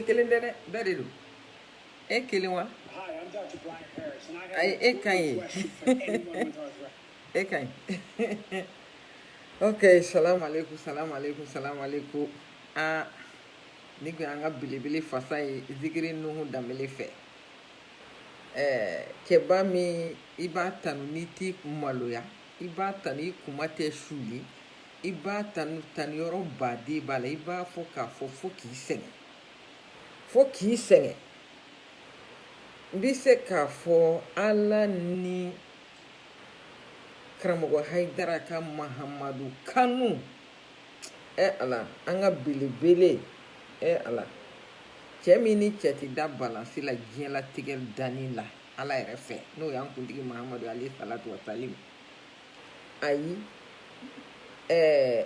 kelen tɛ dɛ bɛɛ de don e kelen wa ayi e ka ɲi e ka ɲi ok salamu aleykum salamu aleykum salamu aleykum aa nin kun y'an ka belebele fasa ye zikiri nuhu danbele fɛ ɛɛ cɛba min i b'a tanu n'i tɛ maloya i b'a tanu i kunma tɛ suuli i b'a tanu tanuyɔrɔba de b'a la i b'a fɔ k'a fɔ fo k'i sɛgɛn fo k'i sɛgɛn n bɛ se k'a fɔ ala ni karamɔgɔ hayidara ka mahamadu kanu ɛ ala an ka belebele ɛ ala cɛ min ni cɛ tɛ da balansi la diɲɛlatigɛ danni la ala yɛrɛ fɛ n'o y'an kuntigi mahamadu aleyhi salatu wasalam ayi ɛɛ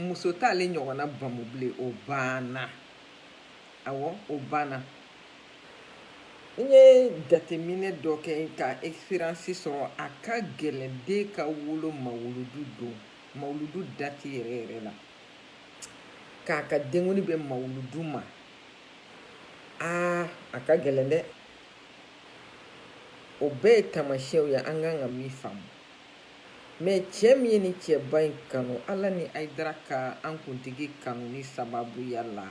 muso t'ale ɲɔgɔnna bamu bilen o banna awɔ o banna n ye jateminɛ dɔ kɛ ka experience sɔrɔ a ka gɛlɛn den ka wolo mawuludu don mawuludu dati yɛrɛ yɛrɛ la k'a ka denkundi bɛn mawuludu ma aa a ka gɛlɛn dɛ o bɛɛ ye tamasiyɛnw ye an kan ka min faamu mɛ cɛ min ye nin cɛba in kanu ala ni hayidara ka an kuntigi kanuni sababuya la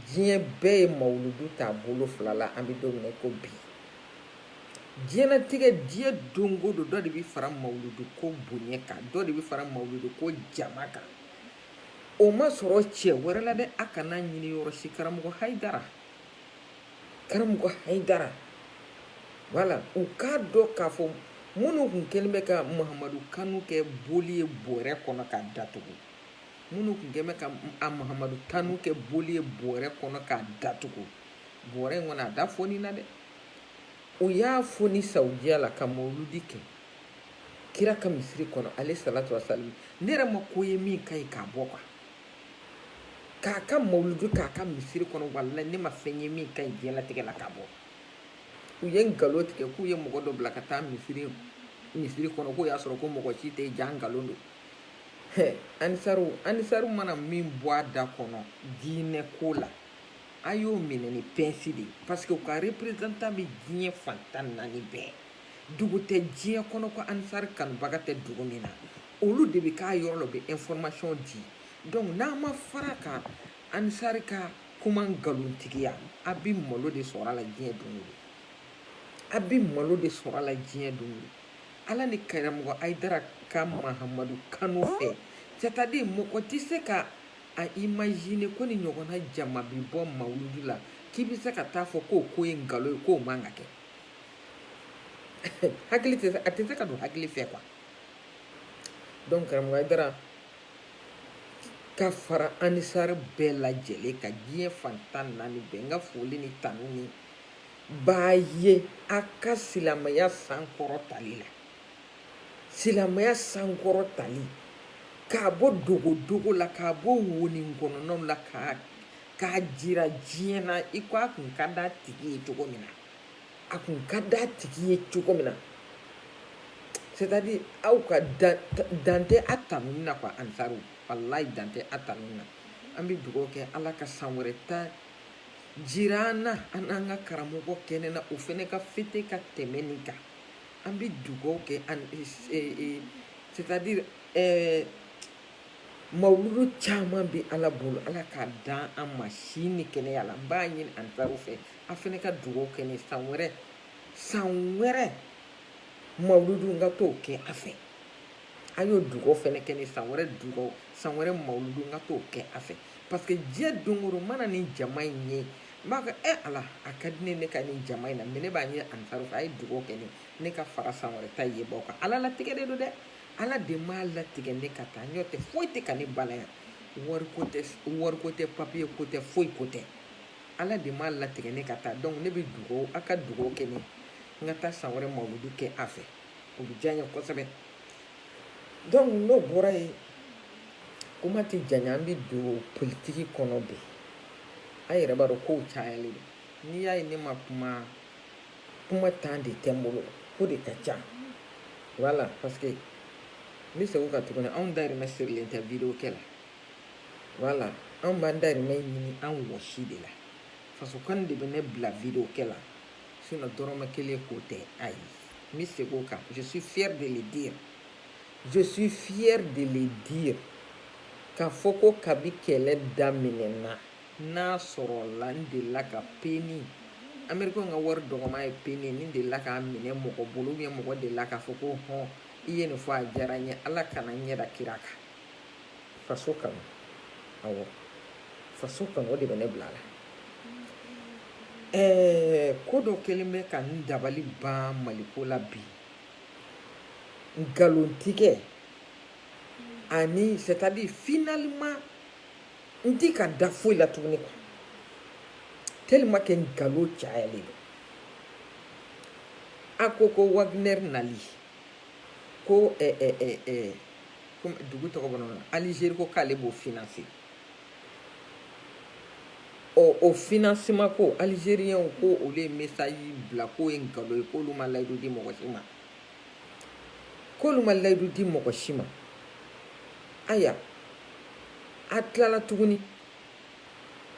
diɲɛ bɛɛ ye mawuludu ta a bolo fila la an bɛ don min na ko bi diɲɛnatigɛ diɲɛ don o don dɔ de bɛ fara mawuludu ko bonya kan dɔ de bɛ fara mawuludu ko jama kan o ma sɔrɔ cɛ wɛrɛ la dɛ a kana ɲini yɔrɔ si karamɔgɔ hayidara karamɔgɔ hayidara wala u k'a dɔn k'a fɔ minnu tun kɛlen bɛ ka mahamadu kanu kɛ boli ye bɔrɛ kɔnɔ k'a datugu minnu tun kɛlen bɛ ka a mahamadu kanu kɛ boli ye bɔrɛ kɔnɔ k'a datugu bɔrɛ in kɔnɔ a da fonina dɛ u y'a foni sawudiya la ka mawuludi kɛ kira ka misiri kɔnɔ aleyhi salatu wasalam ne yɛrɛ ma ko ye min ka ɲi k'a bɔ ka wa k'a ka mawuludi k'a ka misiri kɔnɔ walayi ne ma fɛn ye min ka ɲi diɲɛlatigɛ la k'a bɔ u ye nkalon tigɛ k'u ye mɔgɔ dɔ bila ka taa misiri misiri kɔnɔ k'u y'a sɔrɔ ko mɔgɔ si tɛ jaa nkalon don anisariw anisariw mana min bɔ a da kɔnɔ diinɛ ko la a y'o minɛ ni pɛnsi de ye parce que u ka représentant bɛ diɲɛ fan tan naani bɛɛ dugu tɛ diɲɛ kɔnɔ ko anisari kanubaga tɛ dugu min na olu de bɛ k'a yɔrɔ la u bɛ information di donc n'a ma fara ka anisari ka kuma nkalontigiya a bɛ malo de sɔrɔ a la diɲɛ don o don a bɛ malo de sɔrɔ a la diɲɛ don o don ala ni karamɔgɔ ayidara ka mahamadu kanu fɛ c'est à dire mɔgɔ tɛ se ka a imagine ko nin ɲɔgɔnna jama bi bɔ mawuludi la k'i bɛ se ka t'a fɔ k'o ko ye nkalon ye k'o man ka kɛ hakili tɛ a tɛ se ka don hakili fɛ quoi donc karamɔgɔ ayidara ka fara anisari bɛɛ lajɛlen ka diɲɛ fan tan naani bɛɛ n ka foli ni tanuni b'a ye a ka silamɛya sankɔrɔtali la silamɛya sankɔrɔtali k'a bɔ dogodogo la k'a bɔ wonin kɔnɔna la k'a k'a jira diɲɛ na i ko a kun ka d'a tigi ye cogo min na a kun ka d'a tigi ye cogo min na c'est à dire aw ka dan tɛ a tanuni na quoi anisari walayi dan tɛ a tanuni na an bɛ dugawu kɛ ala ka san wɛrɛ ta jira an na an n'an ka karamɔgɔ kɛnɛ na o fɛnɛ ka fete ka tɛmɛ nin kan An bɛ dugawu kɛ c'est à dire mawuludu caman bɛ ala bolo ala k'a d'an ma si ni kɛnɛya la n b'a ɲini anisari fɛ a fɛnɛ ka dugawu kɛ san wɛrɛ san wɛrɛ mawuludu n ka t'o kɛ a fɛ a y'o dugaw fɛnɛ kɛ n ye san wɛrɛ dugaw san wɛrɛ mawuludu n ka t'o kɛ a fɛ parce que diɲɛ don o don mana nin jama in ye n b'a fɔ e ala a ka di n ye ne ka nin jama in na mɛ ne b'a ɲini anisari fɛ a ye dugaw kɛ n ye ne ka fara san wɛrɛ ta yebaw kan ala latigɛ de don dɛ ala de m'a latigɛ ne ka taa n'o tɛ foyi tɛ ka ne bali yan wariko tɛ wariko tɛ papiye ko tɛ foyi ko tɛ ala de m'a latigɛ ne ka taa donc ne bɛ dugaw a ka dugaw kɛ n ye n ka taa san wɛrɛ mawuludu kɛ a fɛ o bɛ diya n ye kosɛbɛ donc n'o bɔra yen kuma tɛ janya an bɛ don politiki kɔnɔ bi a yɛrɛ b'a dɔn kow cayalen don n'i y'a ye ne ma kuma kuma temps de tɛ n bolo ko de ka ca voilà parce que n bɛ segin o kan tuguni anw dayirimɛ sirilen tɛ video kɛ la voilà anw b'an dayirimɛ ɲini an wɔsi de la fasokanu de bɛ ne bila video kɛ la Sinon dɔrɔmɛ kelen ko tɛ a ye n bɛ segin o kan je suis fière de le dire je suis fière de le dire k'a fɔ ko kabi kɛlɛ daminɛna n'a sɔrɔla n delila ka peni amerikɛnw ka wari dɔgɔman ye peni n delila k'a minɛ mɔgɔ bolo ou bien mɔgɔ delila k'a fɔ ko hɔn i ye nin fɔ a diyara n ye ala kana n ɲɛ da kira kan faso kanu awɔ faso kanu o de bɛ ne bila la ɛɛ ko dɔ kelen bɛ ka n dabali ban maliko la bi nkalontigɛ ani c'est à dire finalement n ti ka da foyi la tuguni quoi tellement que nkalon cayalen don a ko ko wagner nali ko ɛɛ ɛɛ ɛɛ dugu tɔgɔ bɔra na alizeri ko k'ale b'o finanse ɔ o financement ko alizeriyɛnw ko olu ye mesaji bila k'o ye nkalon ye k'olu ma layidu di mɔgɔ si ma k'olu ma layidu di mɔgɔ si ma aya a tilala tuguni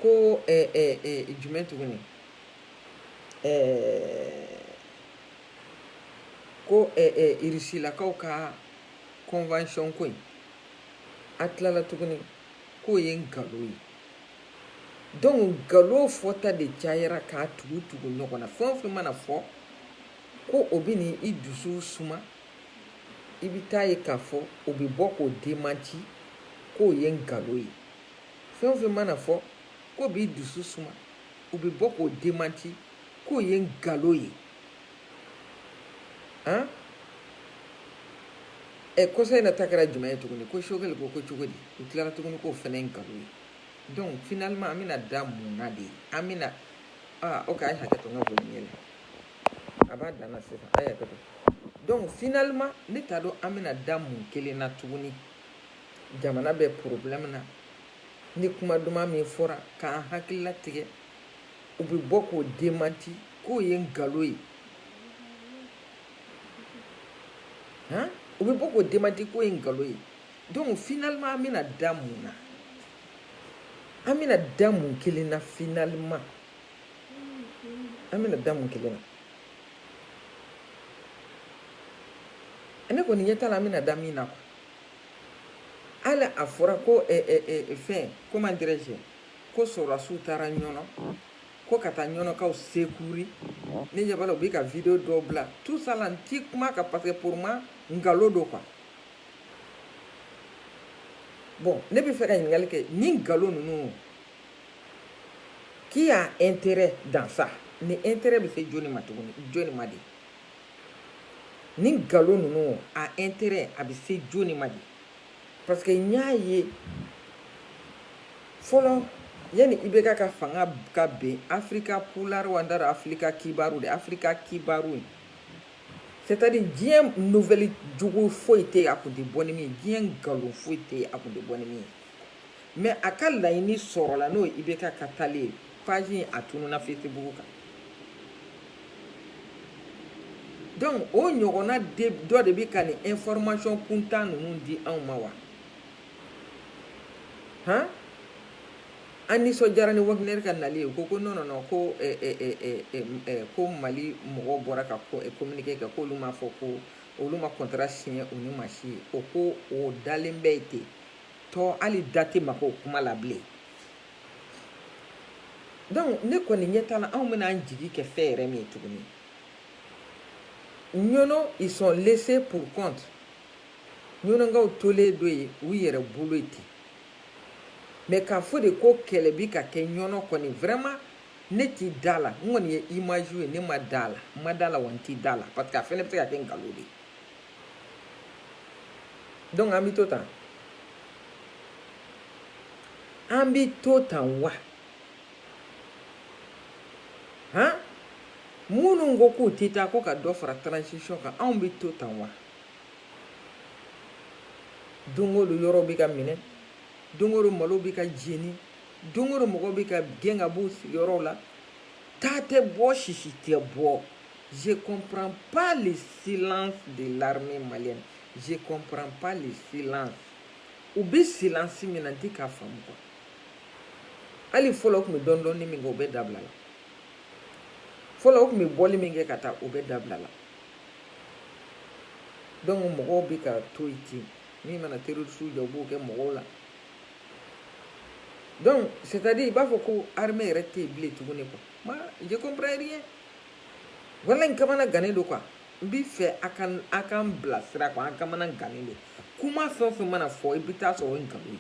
ko eh, eh, eh, jumɛn tuguni eh, ko eh, eh, irisilakaw ka convention ko in a tilala tuguni k'o ye nkalon ye donc nkalon fɔta de cayara k'a tugu tugu ɲɔgɔn na fɛn o fɛn mana fɔ ko o bɛna i dusu suma i bɛ t'a ye k'a fɔ o bɛ bɔ k'o demanti k'o ye nkalon ye fɛn o fɛn mana fɔ k'o b'i dusu suma o bɛ bɔ k'o demanti k'o ye nkalon ye an ɛ kɔsa in na ta kɛra jumɛn ye tuguni ko choguel ko ko cogo di u tilara tuguni k'o fɛnɛ ye nkalon ye donc finalement an bɛna da mun na de an bɛna ah ok a ye hakɛ to n ka boli ɲɛ la a b'a dan na sisan a ye hakɛ to donc finalement ne t'a dɔn an bɛna da mun kelen na tuguni jamana bɛ problème na ni kuma duman min fɔra k'an hakili latigɛ u bɛ bɔ k'o demanti k'o ye nkalon ye u bɛ bɔ k'o demanti k'o ye nkalon ye donc finalement an bɛna da mun na an bɛna da mun kelen na finalement an bɛna da mun kelen na ne kɔni ɲɛ t'a la an bɛna da min na quoi hali a fɔra ko fɛn ko man gɛrɛ ko sɔrɔdasiw taara ɲɔnɔ ko ka taa ɲɔnɔkaw secourir ne ɲɛ b'a la u bɛ ka video dɔw bila tout ça là n ti kuma quoi parce que pour moi nkalon don quoi bon ne bɛ fɛ ka ɲininkali kɛ ni nkalon ninnu qui a intérêt dans ça ni intérêt bɛ se jɔni ma tuguni jɔni ma de ni nkalon ninnu a intérêt a bɛ se jɔni ma de parce que n y'a ye fɔlɔ yanni IBK ka fanga ka bin afirika pulari wa n t'a dɔn afirika kibaru de afirika kibaru ye c'est à dire diɲɛ nouvelle jugu foyi tɛ yen a kun tɛ bɔ ni min ye diɲɛ nkalon foyi tɛ yen a kun tɛ bɔ ni min ye mais a ka laɲini sɔrɔla n'o ye IBK ka taali ye page a tununa Facebook kan donc o ɲɔgɔnna dɔ de bɛ ka nin information kuntan ninnu di anw ma wa han an nisɔndiyara ni Wagner ka nali ye u ko ko non non ko eh, eh, eh, ko mali mɔgɔw bɔra ka communiqué kɛ k'olu m'a fɔ ko olu ma contrat signé u ni maa si cɛ o ko o dalen bɛ yen ten tɔ hali da tɛ maga o kuma la bilen donc ne kɔni ɲɛ t'a la anw bɛna an jigi kɛ fɛn yɛrɛ min ye tuguni ɲɔnɔ ils sont laissés pour compte ɲɔnɔkaw tolen don yen u yɛrɛ bolo yen ten mais k'a fɔ de ko kɛlɛ bi ka kɛ ɲɔnɔ kɔni vraiment ne ti da a la n kɔni ye image ye ne ma da a la n ma da a la wa n ti da a la parce que a fɛnɛ bɛ se ka kɛ nkalon de ye Donc an bɛ to tan an bɛ to tan wa han minnu ko k'u tɛ taa ko ka dɔ fara transition kan anw bɛ to tan wa don o don yɔrɔ bɛ ka minɛ don o don malo bɛ ka jeni don o don mɔgɔw bɛ ka gɛn ka b'u sigiyɔrɔw la ta tɛ bɔ sisi tɛ bɔ. Je ne comprends pas le silence de l'armée malienne. Je ne comprends pas le silence. U bɛ silence min na n tɛ k'a faamu quoi. Hali fɔlɔ u tun bɛ dɔɔnin dɔɔnin min kɛ o bɛɛ dabilala. Fɔlɔ u tun bɛ bɔli min kɛ ka taa o bɛɛ dabilala. Donc mɔgɔw bɛ ka to yen ten min mana terroristew diya u b'o kɛ mɔgɔw la. Donc c'est-à-dire i b'a fɔ ko armée yɛrɛ tɛ yen bilen tuguni quoi. Moi je comprends rien. walayi n kamanagannen don quoi n b'i fɛ a ka a ka n bilasira quoi an kamanagannen don kuma fɛn o fɛn mana fɔ i bɛ taa sɔrɔ o ye nkalon ye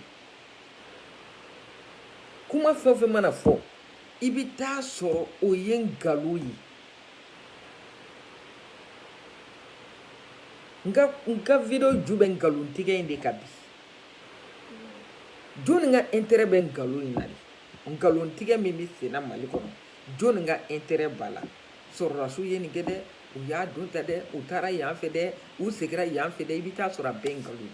kuma fɛn o fɛn mana fɔ i bɛ taa sɔrɔ o ye nkalon ye n ka n ka video ju bɛ nkalontigɛ in de kan bi jɔnni ka intérêt bɛ nkalon in na de nkalontigɛ min bɛ senna mali kɔnɔ jɔnni ka intérêt b'a la sɔrɔdasiw ye nin kɛ dɛ u y'a don ta dɛ u taara yan fɛ dɛ u segira yan fɛ dɛ i bɛ taa sɔrɔ a bɛɛ nkalon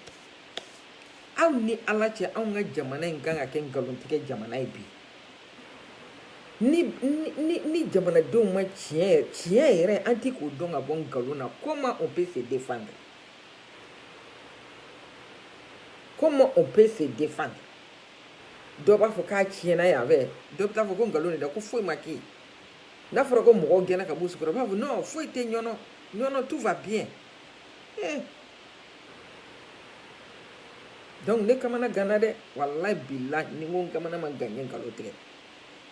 aw ni ala cɛ anw ka jamana in kan ka kɛ nkalontigɛ jamana ye bi ni ni ni jamanadenw ma tiɲɛ tiɲɛ yɛrɛ an ti k'o dɔn ka bɔ nkalon na comment on peut se défendre comment on peut se défendre dɔ b'a fɔ k'a tiɲɛna yan fɛ dɔ bɛ taa fɔ ko nkalon de don ko foyi ma kɛ n'a fɔra ko mɔgɔw gɛnna ka b'u so kɔnɔ b'a fɔ non foyi tɛ ɲɔnɔ ɲɔnɔ tout va bien eh. donc ne kamana ganna dɛ walayi bilayi ni n ko n kamana ma gan n ye nkalon tigɛ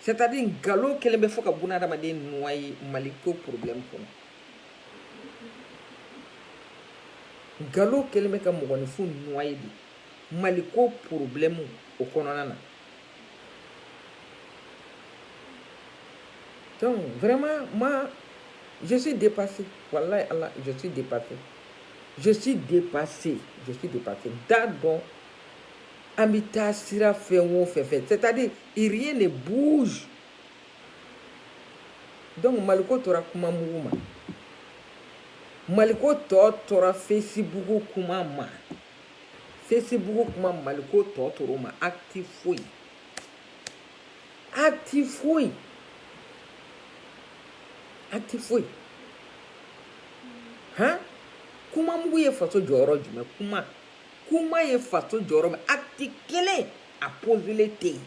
c'est à dire nkalon kɛlen bɛ fo ka buna adamaden noyer mali ko problème kɔnɔ nkalon kɛlen bɛ ka mɔgɔninfin noyer bi maliko problème o kɔnɔna na donc vraiment moi je suis dépassé wallahi ala je suis dépassé je suis dépassé je suis dépassé n t'a dɔn an bɛ taa sira fɛn o fɛn fɛ c'est à dire rien ne bouge donc maliko tora kuma mugu ma maliko tɔ tora facebook kuma ma Facebook kuma Mali ko tɔ tor'o ma acte foyi, acte foyi, acte foyi, han, kuma mugu ye faso jɔ yɔrɔ jumɛn kuma, kuma ye faso jɔ yɔrɔ min acte kelen a poser len tɛ yen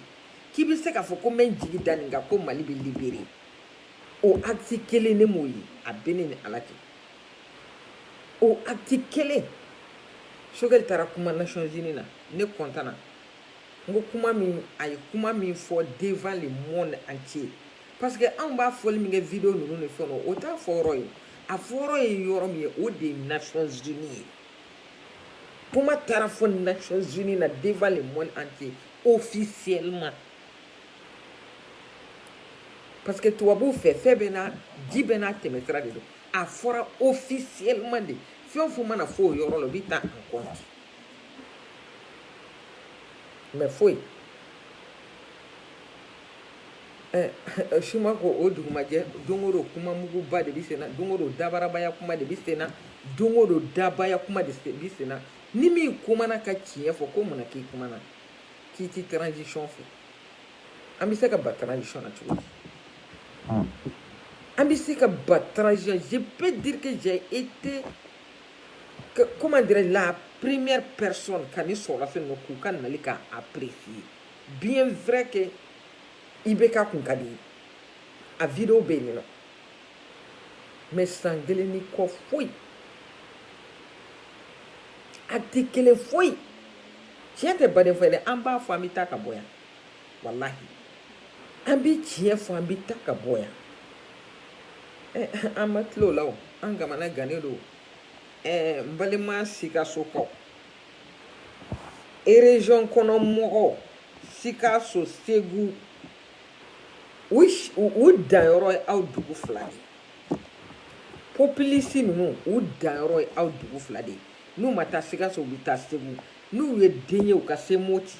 k'i bɛ se k'a fɔ ko n bɛ n jigi da nin kan ko Mali bɛ libérer o acte kelen ne m'o ye a bɛ ne ni Ala cɛ. o acte kelen Choguel taara kuma nations unies na ne kɔntanna n ko kuma min a ye kuma min fɔ devant le monde entier parce que anw b'a fɔli min kɛ video ninnu ni fɛn o t'a fɔ yɔrɔ ye a fɔ yɔrɔ ye yɔrɔ min ye o de ye nations unies ye kuma taara fɔ nations unies na devant le monde entier officiellement parce que tubabuw fɛ fɛn bɛɛ n'a fɛn bɛɛ n'a tɛmɛsira de don a fɔra officiellement de fɛn o fɛn mana fɔ o yɔrɔ la o bɛ ta en compte mais foyi si ma kɛ o dugumajɛ don o don kuma muguba de bɛ sen na don o don dabarabaya kuma de bɛ sen na don o don dabaya kuma de bɛ sen na ni min kumana ka tiɲɛ fɔ ko mun na k'i kumana k'i ti transition fɛ an bɛ se ka batara sɔn na cogo di an bɛ se ka batara sɔn je peux dire que j'ai été que, comment dirais-je la première personne ka ne sɔrɔ fɛn dɔ k'u ka nali ka apprécier bien vrai que i bɛ ka kun ka di a video bɛ yen nɔ mais san kelen ni kɔ foyi a tɛ kelen foyi tiɲɛ tɛ baden fɔ dɛ an b'a fɔ an bɛ taa ka bɔ yan walahi an bɛ tiɲɛ fɔ an bɛ taa ka bɔ yan an ma tilo la o an kamana gannen don n balima sikasokaw erezɔn kɔnɔ mɔgɔw sikaso segu u danyɔrɔ ye aw dugu fila de ye populistes ninnu u danyɔrɔ ye aw dugu fila de ye n'u ma taa sikaso u bɛ taa segu n'u ye den ye u ka se moti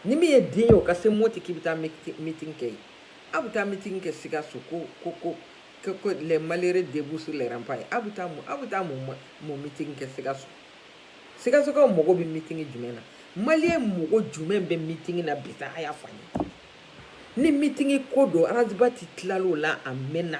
ni min ye den ye o ka se moti k'i bɛ taa meeting kɛ yen aw bɛ taa meeting kɛ sikaso ko ko ko que, que les malheureux debout sur les remparts aw bɛ taa mun aw bɛ taa mun mun meeting kɛ sikaso sikasokaw mago bɛ meeting jumɛn na maliyɛn mago jumɛn bɛ meeting na bi sa a y'a fɔ an ye ni meeting ko don ras bath tilal'o la a mɛnna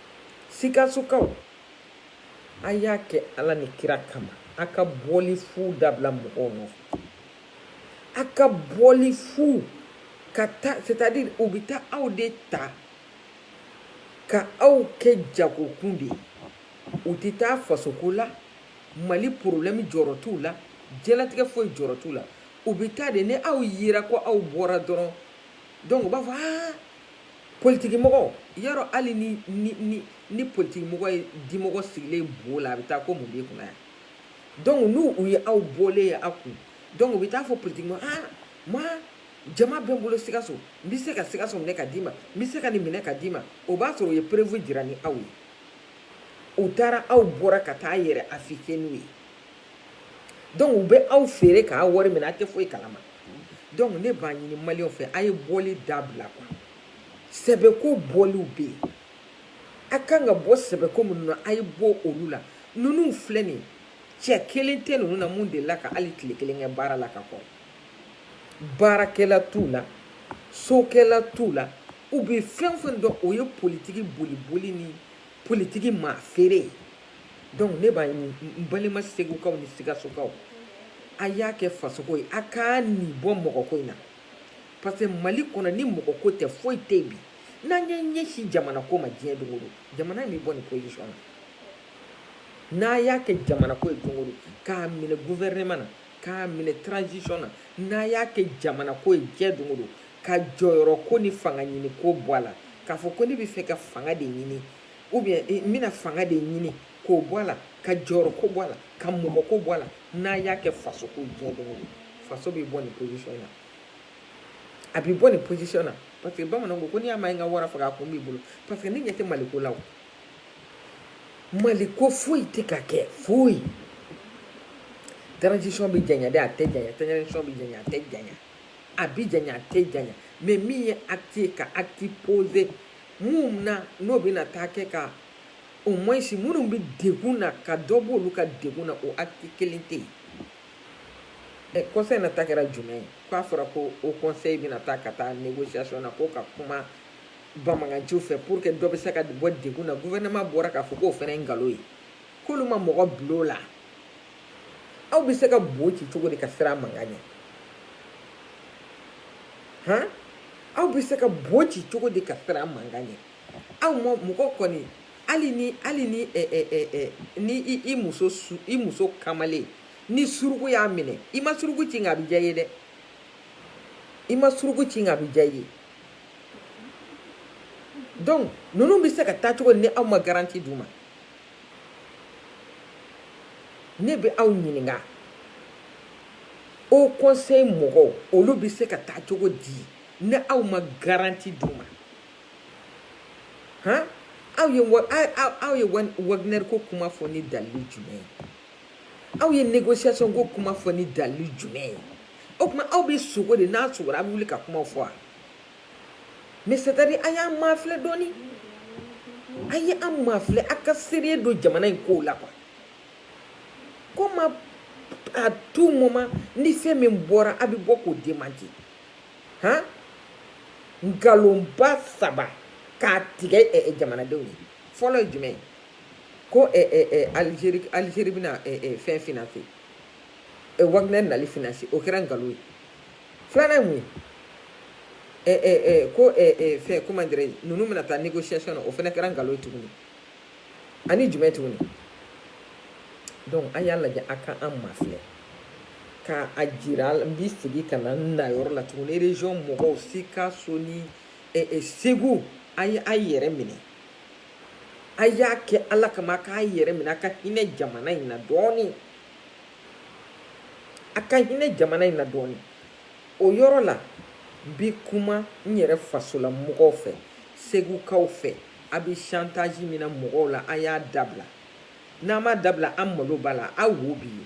sikasokaw a y'a kɛ ala ni kira kama a ka bɔli fu dabila mɔgɔw nɔfɛ a ka bɔli fu ka taa c'est à dire u bɛ taa aw de ta ka aw kɛ jagokun de ye u tɛ taa fasoko la mali problème jɔrɔ t'u la diɲɛlatigɛ foyi jɔrɔ t'u la u bɛ taa de ni aw yera ko aw bɔra dɔrɔn donc u b'a fɔ aa politigimɔgɔ yɔrɔ hali ni ni ni ni politigimɔgɔ ye dimɔgɔ sigilen bo la a bɛ taa ko mun b'i kunna yan donc ni u ye aw bɔlen ye aw kun donc u bɛ t'a fɔ politigimɔgɔ ah moi jama bɛ n bolo sikaso n bɛ se ka sikaso minɛ ka d'i ma n bɛ se ka nin minɛ ka d'i ma o b'a sɔrɔ u ye preuve jira ni aw ye u taara aw bɔra ka taa yɛrɛ afficher n'u ye donc u bɛ aw feere k'a wari minɛ a tɛ foyi kalama donc ne b'a ɲini maliyɛnw fɛ a ye bɔli dabila quoi sɛbɛko bɔliw bɛ yen a kan ka bɔ sɛbɛko minnu na a ye bɔ olu la ninnu filɛ nin cɛ kelen tɛ ninnu na mun delila ka hali tile kelen kɛ baara la ka kɔrɔ baarakɛla t'u la sokɛla t'u la u bɛ fɛn fɛn dɔn o ye politiki boliboli ni politiki maa feere ye donc ne b'a ɲini n balima segukaw ni sigasokaw a y'a kɛ fasoko ye a k'a ni bɔ mɔgɔko in na parce que mali kɔnɔ ni mɔgɔko tɛ foyi tɛ bi n'a y'a ɲɛsin jamana ko ma diɲɛ don o don jamana in bɛ bɔ nin position na n'a y'a kɛ jamana ko ye don o don k'a minɛ gouvernement na k'a minɛ transition na n'a y'a kɛ jamana ko ye diɲɛ don o don ka jɔyɔrɔ ko ni fanga ɲini ko bɔ a la k'a fɔ ko ne bɛ fɛ ka fanga de ɲini ou bien eh, n bɛna fanga de ɲini k'o bɔ a la ka jɔyɔrɔ ko bɔ a la ka mɔgɔ ko bɔ a la n'a y'a kɛ faso ko diɲɛ don o don faso bɛ bɔ nin position na a bɛ bɔ nin position na parce que bamananw ko ko n'i y'a ma ye n ka wara faga a kun b'i bolo parce que ne ɲɛ tɛ maliko la o Mali ko foyi tɛ ka kɛ foyi transition bɛ janya dɛ a tɛ janya transition bɛ janya a tɛ janya a bɛ janya a tɛ janya mais min ye acte ye ka acte poser minnu na n'o bɛna taa kɛ ka au moins minnu bɛ degun na ka dɔ b'olu ka degun na o acte kelen tɛ yen ɛ conseil na ta kɛra jumɛn ye ko a fɔra ko haut conseil bɛna taa ka taa négociation na ko ka kuma banbaganciw fɛ pour que dɔ bɛ se ka bɔ degun na gouvernement bɔra k'a fɔ k'o fana ye nkalon ye k'olu ma mɔgɔ bil'o la aw bɛ se ka bo ci cogo di ka siran mankan ɲɛ han aw bɛ se ka bo ci cogo di ka siran mankan ɲɛ aw ma mɔgɔ kɔni hali ni hali ni ɛ ɛ ɛ ɛ ni i i muso su i muso kamalen ni suruku y'a minɛ i ma suruku ci nka a bɛ diya i ye dɛ i ma suruku ci nka a bɛ diya i ye. donc ninnu bɛ se ka taa cogo di ni aw ma garanti d'u ma ne bɛ aw ɲininka haut conseil mɔgɔw olu bɛ se ka taa cogo di ni aw ma garanti d'u ma han aw ye aw ye Wagner ko kuma fɔ ni dalili jumɛn ye aw ye négociation ko kuma fɔ ni dalili jumɛn ye o tuma aw bɛ sogo de n'a sogora a bɛ wuli ka kuma fɔ wa mais c'est à dire a y'an mafilɛ dɔɔni a ye an mafilɛ a ka sérieux don jamana in kow la quoi comment à tout moment ni fɛn min bɔra a bɛ bɔ k'o démenti han nkalonba saba k'a tigɛ jamanadenw ye fɔlɔ ye jumɛn ye ko Algérie bɛna fɛn financer Wagner nali financer o kɛra nkalon ye filanan ye mun ye ko fɛn ko man gɛrɛ ninnu bɛna taa négociation na o fana kɛra nkalon ye tuguni ani jumɛn tuguni donc a y'a lajɛ a ka an mafilɛ ka a jira n bɛ segin ka na na yɔrɔ la tuguni région mɔgɔw Sikaso ni Segu a ye a yɛrɛ minɛ a y'a kɛ ala kama a k'a yɛrɛ minɛ a ka hinɛ jamana in na dɔɔnin a ka hinɛ jamana in na dɔɔnin o yɔrɔ la n bi kuma n yɛrɛ fasola mɔgɔw fɛ segukaw fɛ a bɛ chantage min na mɔgɔw la a y'a dabila n'a m'a dabila an malo b'a la a wo b'i ye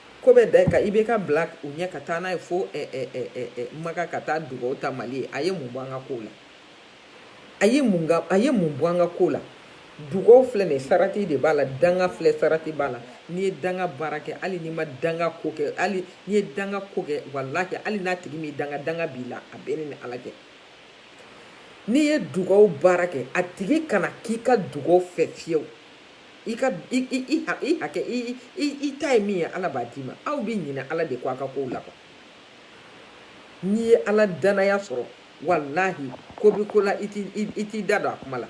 ko bɛ da kan i bɛ ka bila u ɲɛ ka taa n'a ye fo maka ka taa dugaw ta mali ye a ye mun bɔ an ka ko la a ye mun a ye mun bɔ an ka ko la dugaw filɛ nin sarati de b'a la danga filɛ sarati b'a la n'i ye danga baara kɛ hali n'i ma danga ko kɛ hali n'i ye danga ko kɛ wala kɛ hali n'a tigi m'i danga danga b'i la a bɛ ne ni ala cɛ n'i ye dugaw baara kɛ a tigi kana k'i ka dugaw fɛ fiyewu i ka i i i ha i hakɛ i i i ta ye min ye ala b'a d'i ma aw bɛ ɲinɛ ala de kɔ a ka kow la quoi n'i ye ala danaya sɔrɔ walahi ko bɛ ko la i t'i i t'i da don a kuma la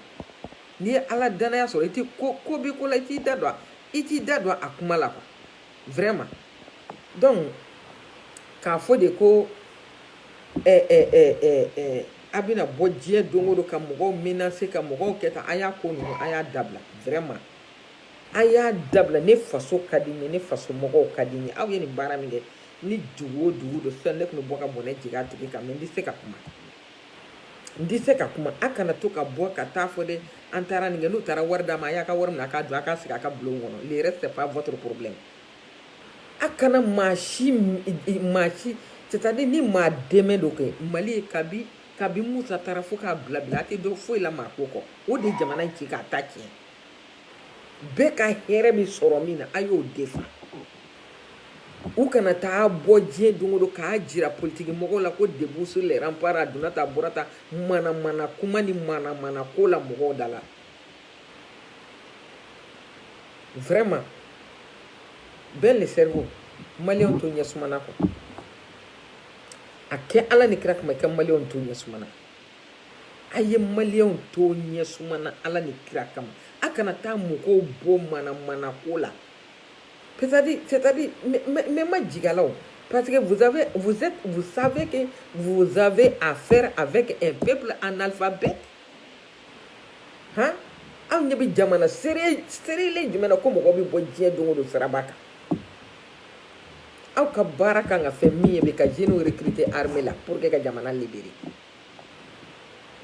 n'i ye ala danaya sɔrɔ i tɛ ko ko bɛ ko la i t'i da don a i t'i da don a kuma la quoi vraiment donc k'a fɔ de ko eh, eh, eh, eh, eh, a bɛna bɔ diɲɛ don o don ka mɔgɔw menacer ka mɔgɔw kɛ tan a y'a ko ninnu a y'a dabila vraiment a y'a dabila ne faso ka di n ye ne faso mɔgɔw ka di n ye aw ye nin baara min kɛ ni dugu o dugu don sisan ne tun bɛ bɔ ka bɔnɛ jigin a tigi kan mais n tɛ se ka kuma n tɛ se ka kuma a kana to ka bɔ ka taa fɔ dɛ an taara nin kɛ n'u taara wari d'a ma a y'a ka wari minɛ a k'a dun a k'a sigi a ka bulon kɔnɔ le reste c'est pas votre problème a kana maa si maa si c'est à dire ni maa dɛmɛ dɔ kɛ mali ye kabi kabi musa taara fo k'a bila bi la a tɛ dɔ foyi la maa ko kɔ o de jamana in ci k'a ta tiɲɛ bɛɛ ka hɛrɛ bɛ sɔrɔ min na a y'o de fɔ u kana taa bɔ diɲɛ don o don k'a jira politiki mɔgɔw la ko debout sur les remparts a donna tan a bɔra tan manamana kuma ni manamana ko la mɔgɔw da la vraiment ben le cerveau maliyɛnw to ɲɛsuma na kɔ a kɛ ala ni kira kama i ka maliyɛnw to ɲɛsuma na a ye maliyɛnw to ɲɛsuma na ala ni kira kama a kana taa mɔgɔw bɔ manamanako la c'est-à-dire c'est-à-dire ne ma jigala o parce que vous avez vous êtes vous savez que vous avez affaire avec un peuple analphabète han aw ɲɛ bɛ jamana seere seerelen jumɛn na ko mɔgɔ bɛ bɔ diɲɛ don o don siraba kan aw ka baara kan ka kɛ min ye bɛ ka jeunes recruter armée la pour que ka jamana libérer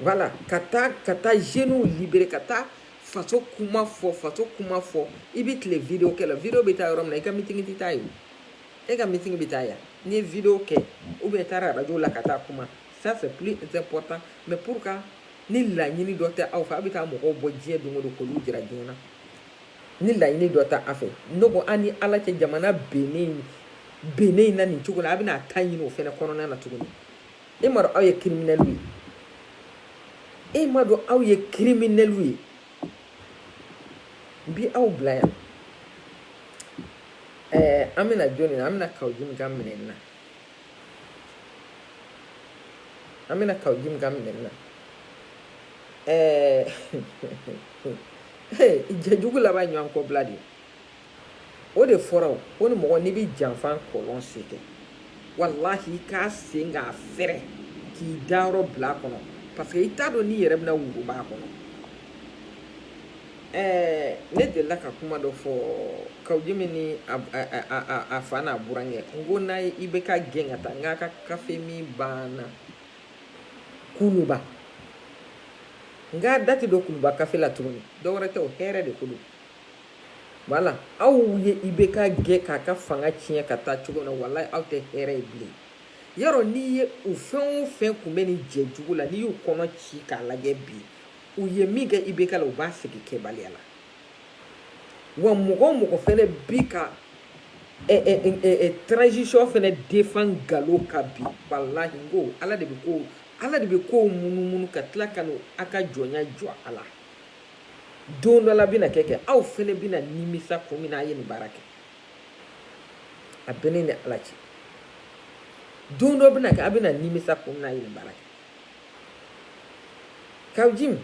wala ka taa ka taa jeunes libérer ka taa faso kuma fɔ faso kuma fɔ i bɛ tile video kɛ la video bɛ taa yɔrɔ min na i ka meeting tɛ taa yen e ka meeting bɛ taa yan n'i ye video kɛ ou bien taara radio la ka taa kuma ça c'est plus important mais pour ka ni laɲini dɔ tɛ aw fɛ aw bɛ taa mɔgɔw bɔ diɲɛ don o don k'olu jira diɲɛ na ni laɲini dɔ tɛ a fɛ ne ko an ni ala cɛ jamana bennen bennen na nin cogo la a bɛna a ta ɲini o fana kɔnɔna na tuguni e ma dɔn aw ye kiriminɛli ye e ma dɔn aw ye kiriminɛli ye bi aw bila yan ɛɛ an bɛna jɔni na an bɛna kaou djim ka minɛ na an bɛna kaou djim ka minɛ na ɛɛ jɛjugu laban ɲɔgɔn kɔ bila de o de fɔra o ko ni mɔgɔ n'i bɛ janfa kɔlɔn sen kɛ walahi i k'a sen k'a fɛrɛ k'i dayɔrɔ bila a kɔnɔ paseke i t'a dɔn n'i yɛrɛ bɛna wuruba a kɔnɔ ɛɛ ne delila ka kuma dɔ fɔ kaou djim ni a fa n'a burankɛ n ko n'a ye IBK gɛn ka taa n k'a ka kafe min banna kuluba n k'a da tɛ don kuluba kafe la tuguni dɔwɛrɛ tɛ o hɛrɛ de ko don wala aw ye IBK gɛn k'a ka fanga tiɲɛ ka taa cogo na walahi aw tɛ hɛrɛ ye bilen yɔrɔ n'i ye u fɛn o fɛn tun bɛ nin jɛ jugu la n'i y'u kɔnɔ ci k'a lajɛ bi u ye min kɛ IBK la u b'a segin kɛbaliya la wa mɔgɔ o mɔgɔ fana bi ka transition fana defan nkalon kan bi walahi n ko ala de bɛ ko ala de bɛ kow munumunu ka tila ka na a ka jɔnya jɔ a la don dɔ la bɛna kɛ kɛ aw fana bɛna nimisa kun min na a ye nin baara kɛ a bɛ ne ni ala cɛ don dɔ bɛna kɛ a bɛna nimisa kun min na a ye nin baara kɛ kaou djim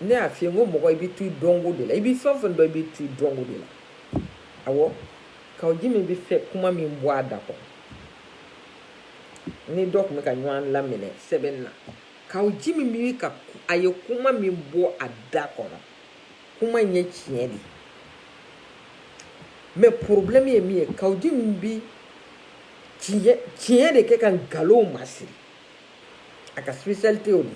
ne y'a f'i ye n ko mɔgɔ i bɛ to i dɔnko de la i bɛ fɛn o fɛn dɔn i bɛ to i dɔnko de la awɔ kaou djim bɛ fɛ kuma min bɔ a da kɔnɔ ni dɔ tun bɛ ka ɲɔgɔn laminɛ sɛbɛnni na kaou djim bi ka a ye kuma min bɔ a da kɔnɔ kuma in ye tiɲɛ de mais problème ye min ye kaou djim bi tiɲɛ tiɲɛ de kɛ ka nkalonw masiri a ka spécialité o de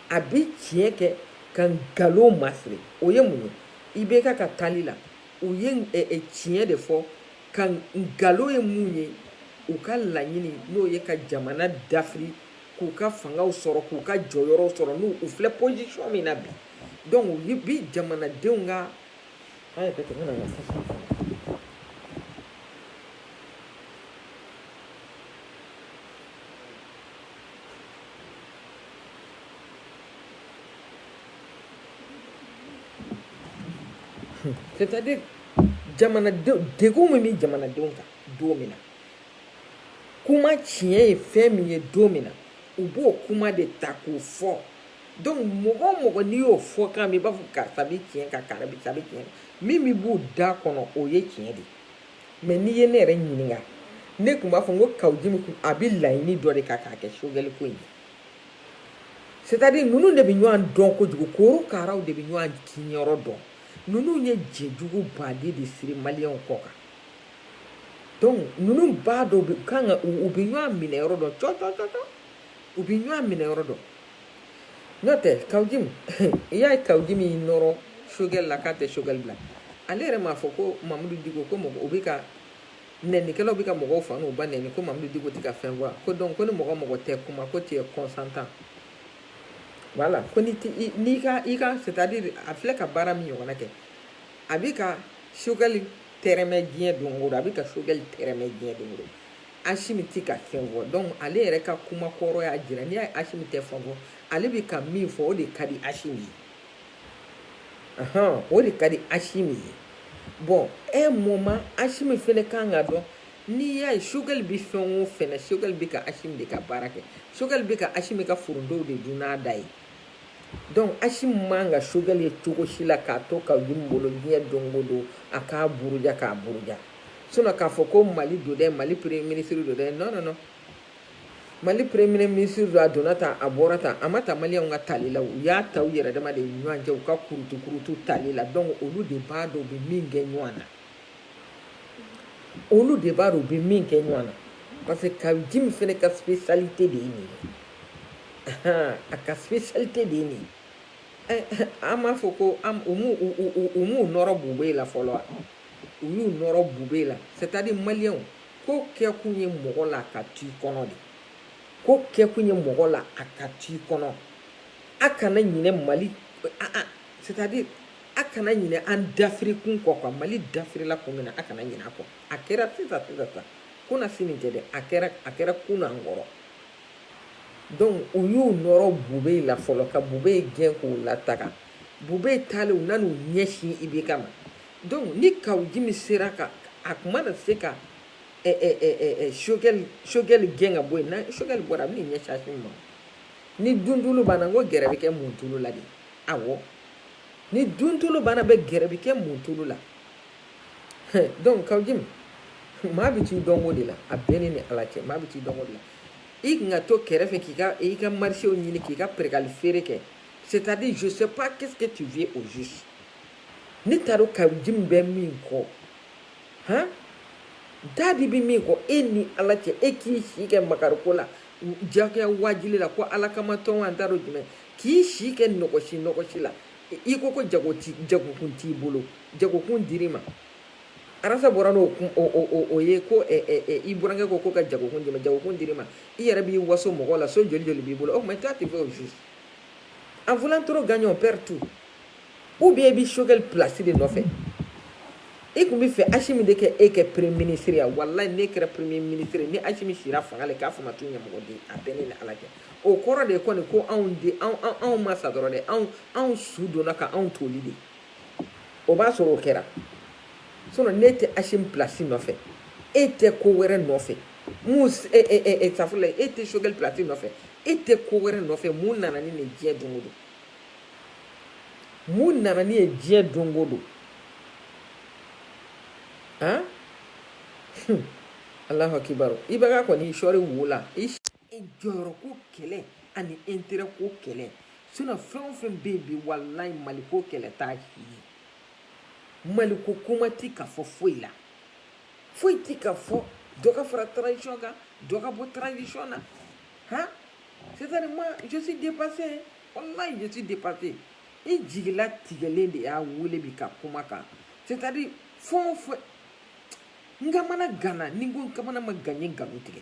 a bi tiɲɛ kɛ ka nkalonw masiri o ye mun ye IBK ka taali la u ye tiɲɛ de fɔ ka nkalon ye mun ye u ka laɲini n'o ye ka jamana dafiri k'u ka fangaw sɔrɔ k'u ka jɔyɔrɔw sɔrɔ n'u u filɛ position min na bi donc u bi jamanadenw ka an yɛrɛ tɛmɛ na c'est-à-dire jamanadenw degun min bɛ jamanadenw kan don min na kuma tiɲɛ ye fɛn min ye don min na u b'o kuma de ta k'o fɔ donc mɔgɔ o mɔgɔ n'i y'o fɔkan mɛn i b'a fɔ karisa bɛ tiɲɛ kan karisa bɛ tiɲɛ kan min bɛ b'u da kɔnɔ o ye tiɲɛ de mais n'i ye ne yɛrɛ ɲininka ne tun b'a fɔ n ko kawujimu kun a bɛ laɲini dɔ de kan k'a kɛ sogɛli ko in ye c'est à dire ninnu de bɛ ɲɔgɔn dɔn kojugu korokaraw de bɛ ɲɔgɔn kinyɔrɔ dɔn ninnu ye jɛjuguba de siri maliyɛnw kɔ kan donc ninnu b'a dɔn bɛ kan ka u bɛ ɲɔgɔn minɛ yɔrɔ dɔn cɔ cɔ cɔ cɔ u bɛ ɲɔgɔn minɛ yɔrɔ dɔn n'o tɛ kawujimu i y'a ye kawujimu y'i nɔrɔ sogɛli la k'a tɛ sogɛli bila ale yɛrɛ m'a fɔ ko mamudu diko ko mɔgɔw bɛ ka nɛnikɛlaw bɛ ka mɔgɔw fa n'u ba nɛni ko mamudu diko tɛ ka fɛn fɔ ko donc ko ni mɔgɔ mɔgɔ tɛ kuma ko tu es consentant voilà ko n'i ka i ka c'est à dire a filɛ ka baara min ɲɔgɔnna kɛ a bɛ ka sogɛli tɛrɛmɛ diɲɛ don o don a bɛ ka sogɛli tɛrɛmɛ diɲɛ don o don asimi tɛ ka fɛn fɔ donc ale yɛrɛ ka kuma kɔrɔ y'a jira n'i y'a ye asimi tɛ fɛn fɔ ale bɛ ka min fɔ o de ka di asimi ye o de ka di asimi ye bon un moment asimi fɛnɛ kan k'a dɔn n'i y'a ye sogɛli bɛ fɛn o fɛn na sogɛli bɛ ka asimi de ka baara kɛ sogɛli bɛ ka asimi ka forontow de dun n'a da ye donc asimi man ka sogɛli ye cogo si la k'a to kawujimu bolo diɲɛ don o don a k'a buruja k'a buruja sinon k'a fɔ ko mali don dɛ mali premier ministre don dɛ non non non mali premier ministre don a donna tan a bɔra tan a ma ta maliyɛnw ka tali la u y'a ta u yɛrɛ dama de ɲɔgɔn cɛ u ka kurutu kurutu tali la donc olu de b'a dɔn u bɛ min kɛ ɲɔgɔn na olu de b'a dɔn u bɛ min kɛ ɲɔgɔn na parce que kawujimu fana ka spécialité de ye nin ye a ka spécialité de ye nin ye an b'a fɔ ko an u m'u u m'u nɔrɔ bube la fɔlɔ wa u y'u nɔrɔ bube la c'est à dire maliyɛnw ko kɛkun ye mɔgɔ la ka t'i kɔnɔ dɛ ko kɛkun ye mɔgɔ la a ka t'i kɔnɔ a kana ɲinɛ mali c'est à dire a kana ɲinɛ an dafirikun kɔ ko mali dafirila kun min na a kana ɲinɛ a kɔ a kɛra sisan sisan sisan kunasini tɛ dɛ a kɛra a kɛra kunun an kɔrɔ donc u y'u nɔrɔ bube la fɔlɔ ka bube gɛn k'u lataga bube taalen u nan'u ɲɛsin ibeka ma donc ni kawujimu sera ka a kun mana se ka sogɛli sogɛli gɛn ka bɔ yen ni sogɛli bɔra a bɛ n'i ɲɛsin asimi ma ni dundulu banna n ko gɛrɛ bɛ kɛ mun tulu la de awɔ ni duntulu banna bɛ gɛrɛ bɛ kɛ muntulu la donc kaw jimi maa bɛ t'i dɔnko de la a bɛ ne ni ala cɛ maa bɛ t'i dɔnko de la i tun ka to kɛrɛfɛ k'i ka i ka marisew ɲini k'i ka perekali feere kɛ c'est à dire je sais pas qu'est ce que tu vis au juste ne t'a dɔn kaw jimi bɛ min kɔ an t'a dɔn i bɛ min kɔ e ni ala cɛ e k'i si kɛ makariko la jagoya waajili la ko ala kama tɔn an t'a dɔn jumɛn k'i si kɛ nɔgɔsi nɔgɔsi la i ko ko jago t'i jagokun t'i bolo jagokun dir'i ma arasa bɔra n'o kun o o o o ye ko ɛ ɛ ɛ i burankɛ ko ko ka jagokun d'i ma jagokun dir'i ma i yɛrɛ b'i waso mɔgɔ la so joli joli b'i bolo o tuma i t'a tɛ fɛ o juste en voulant trop gagner on perd tout ou bien i bɛ Choguel place de nɔfɛ i tun b'a fɛ Asimi de k'e kɛ premier ministre ye walayi n'e kɛra premier ministre ni Asimi sira fanga la k'a fɔ n ma ko ɲamɔgɔden a bɛ ne ni Ala cɛ o kɔrɔ de kɔni ko anw di anw ma sa dɔrɔn de anw anw su donna ka anw toli de o b'a sɔrɔ o kɛra so n'e tɛ Asimi plasi nɔfɛ e tɛ ko wɛrɛ nɔfɛ safla e tɛ sogɛli plasi nɔfɛ e tɛ ko wɛrɛ nɔfɛ mun nana ni nin diɲɛ don don mun nana ni ye diɲɛ don don ala hakiliki i kɔni iɔri wo la e jɔyɔrɔ ko kɛlɛ ani intérêt ko kɛlɛ sinon fɛn o fɛn bɛ yen bi walayi maliko kɛlɛ t'a si ye maliko kuma t'i ka fɔ foyi la foyi t'i ka fɔ dɔ ka fara transition kan dɔ ka bɔ transition na han c'est à dire moi je suis dépassé walayi je suis dépassé i jigilatigɛlen de y'a wele bi ka kuma kan c'est à dire fɛn o fɛn n kamana ganna ni n ko n kamana ma gan n ye nkalon tigɛ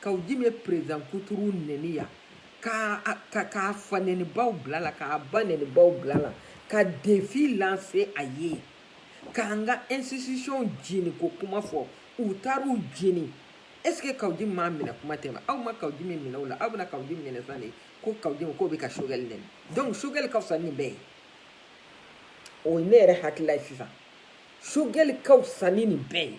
kaw jimi ye perezidan kuturu nɛni yan k'a fa nɛnibaw bila a la k'a ba nɛnibaw bila a la ka defi lanse a ye k'an ka institution jeni k'o kuma fɔ u taar'u jeni est ce que kaw jimi minɛ kuma tɛ ma aw ma kaw jimi minɛ o la aw bɛna kaw jimi minɛ sisan de ko kaw jimi k'o bɛ ka sogɛli nɛni donc sogɛli ka fisa nin bɛɛ ye o ye ne yɛrɛ hakilila ye sisan sogɛli ka fisa ni nin bɛɛ ye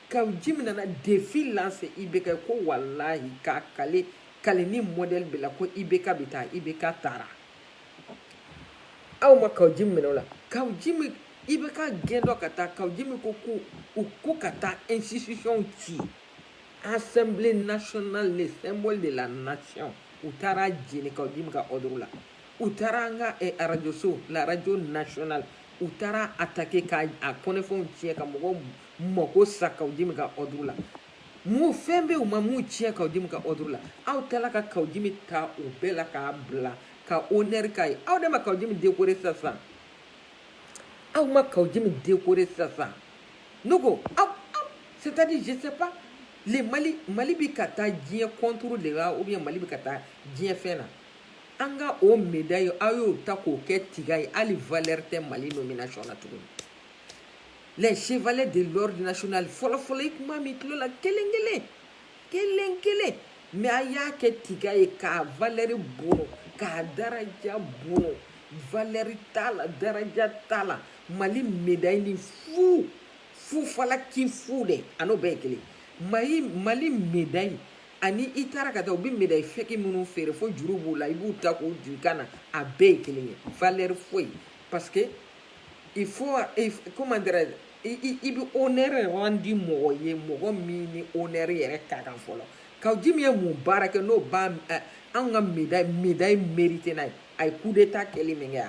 kaw jimi nana defi lanse IBK ye ko walahi k'a kali kali ni mɔdɛli bɛɛ la ko IBK bɛ taa IBK taara aw ma kaw jimi minɛ o la kaw jimi IBK gɛn don ka taa kaw jimi ko ko u ko ka taa institution ci assemblée nationale le symbole de la nation u taar'a jeni kaw jimi ka ordre la u taara an ka eh, arajoso la radio nationale u taar'a atake ka a kɔnɔfɛnw tiɲɛ ka mɔgɔw mɔgɔ ko sara kawu jimi ka ɔduru la mun fɛn bɛ u ma mun tiɲɛ kawu jimi ka ɔduru la aw taara ka kawu jimi ta o bɛɛ la k'a bila ka onɛri k'a ye aw de ma kawu jimi dekore sisan aw ma kawu jimi dekore sisan ne ko aw aw c'est à dire je sais pas le mali mali bɛ ka taa diɲɛ kɔnturu de la ou bien mali bɛ ka taa diɲɛ fɛn na an ka o medayi aw y'o ta k'o kɛ tiga ye hali valeur tɛ mali nomination na tuguni les chevaliers de l'ordre national fɔlɔfɔlɔ i tun b'a mɛn tulo la kelen kelen kelen kelen mais a y'a kɛ tiga ye k'a valɛri bɔn k'a daraja bɔn valɛri t'a la daraja t'a la mali medayi ni fu fu falaki fu de a n'o bɛɛ ye kelen mali mali medayi ani i taara ka taa u bɛ medayi fɛki minnu feere fo juru b'u la i b'u ta k'u don i kan na a bɛɛ ye kelen ye valɛri foyi parce que il faut il, comment dirais i, i bɛ honneur randi mɔgɔ ye mɔgɔ min ni honneur yɛrɛ ka kan fɔlɔ kawu jimi ye mun baara kɛ n'o bɛ eh, an ka médaille médaille mérité n'a ye a ye coup d'état kɛli min kɛ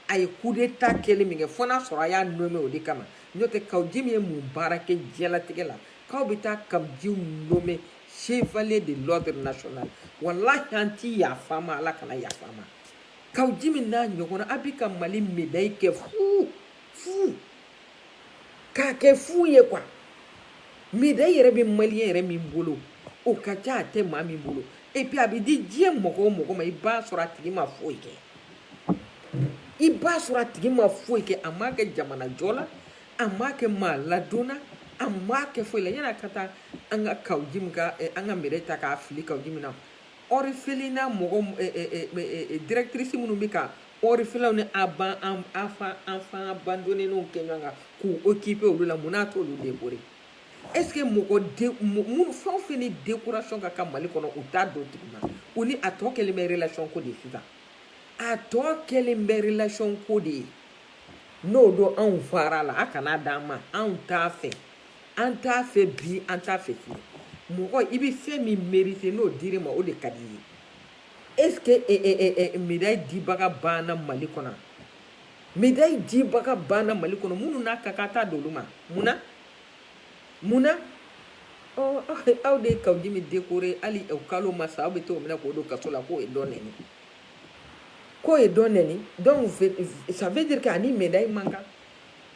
a ye coup d'état kɛli min kɛ fo n'a sɔrɔ a y'a nommé o de kama n'o tɛ kawu jimi ye mun baara kɛ diɲɛlatigɛ la k'aw bɛ taa kawu jimi nommé chevalier de l'ordre national walahi an ti yafa a ma ala kana yafa a ma kawu jimi n'a ɲɔgɔnna a bɛ ka mali medayi kɛ fuu fuu k'a kɛ fuu ye quoi medayi yɛrɛ bɛ maliyɛn yɛrɛ min bolo o ka ca a tɛ maa min bolo epi a bɛ di diɲɛ mɔgɔ o mɔgɔ ma i b'a sɔrɔ a tigi ma foyi kɛ i b'a sɔrɔ a tigi ma foyi kɛ a m'a kɛ jamana jɔ la a m'a kɛ maa ladon na a m'a kɛ foyi la yanni a ka taa an ka kawu jimi ka eh, an ka medayi ta k'a fili kawu jimi na ɔrifelina mɔgɔ directrice minnu bɛ ka orphelinw ni aban enfant enfant abandonnéw kɛ ɲɔgɔn kan k'u okipe olu la mun na a t'olu dekore ɛske mɔgɔ minnu fɛn o fɛn ni dekurasɔn ka kan mali kɔnɔ u t'a d'o tigi ma u ni a tɔ kɛlen bɛ relasɔn ko de sisan a tɔ kɛlen bɛ relasɔn ko de ye n'o don anw far'a la a kana d'an ma anw t'a fɛ an t'a fɛ bi an t'a fɛ sini mɔgɔ i bɛ fɛn min mérite n'o dir'i ma o de ka di i ye est ce que eh, eh, eh, eh, eh médaille dibaga banna mali kɔnɔ médaille dibaga banna mali kɔnɔ minnu n'a ka kan t'a d'olu ma mun na mun na ɔ aw de ye kawu jimi dekore hali o kalo ma sa aw bɛ t'o minɛ k'o don kaso la k'o ye dɔ nɛni k'o ye dɔ nɛni donc ça veut dire que a ni médaille man kan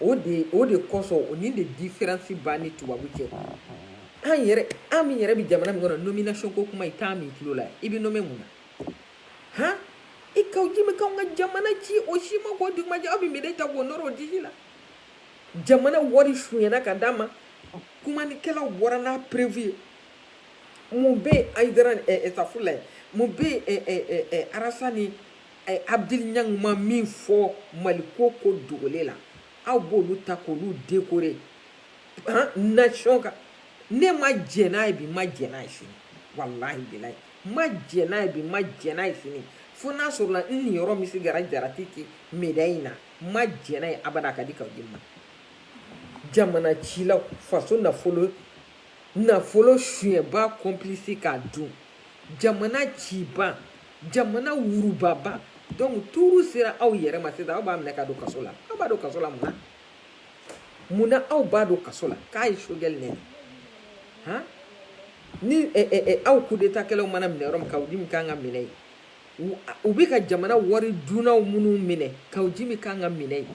o de o de kɔsɔn o ni de diferansi b'an ni tubabu cɛ an yɛrɛ an min yɛrɛ bɛ jamana min kɔnɔ nomination ko kuma i t'a mɛn i tulo la i bɛ nome mun na han i kawujim bɛ k'anw ka jamana ci o si ma k'o dugumajɛ aw bɛ medayi ta k'o nɔrɔ o disi la jamana wari sunyɛna ka d'a ma kumanikɛlaw bɔra n'a preuve ye mun bɛ yen ayidara ɛɛ ɛɛ safu la ye mun bɛ yen ɛɛ ɛɛ ɛɛ arasa ni a ye abdul ɲang ma min fɔ maliko ko dogolen na aw b'olu ta k'olu dekore nation ka ne ma jɛ n'a ye bi ma jɛ n'a ye sini walahi bilayi ma jɛ n'a ye bi ma jɛ n'a ye sini fo n'a sɔrɔla n niyɔrɔ misikala jarati ti medayi in na ma jɛ n'a ye abada a ka di kawujim ma jamana cilaw faso nafolo nafolo sunyɛba kɔnpilisi k'a dun jamana ciba jamana wurubaba donc tuuru sera aw yɛrɛ ma sisan aw b'a minɛ k'a don kaso la aw b'a don kaso la mun na mun na aw b'a don kaso la k'a ye sogɛli nɛni han ni eh, eh, eh, aw kudetakɛlaw mana minɛ yɔrɔ min kawujim kan ka minɛ yen u bɛ ka jamana wari dunnaw minnu minɛ kawujim kan ka minɛ yen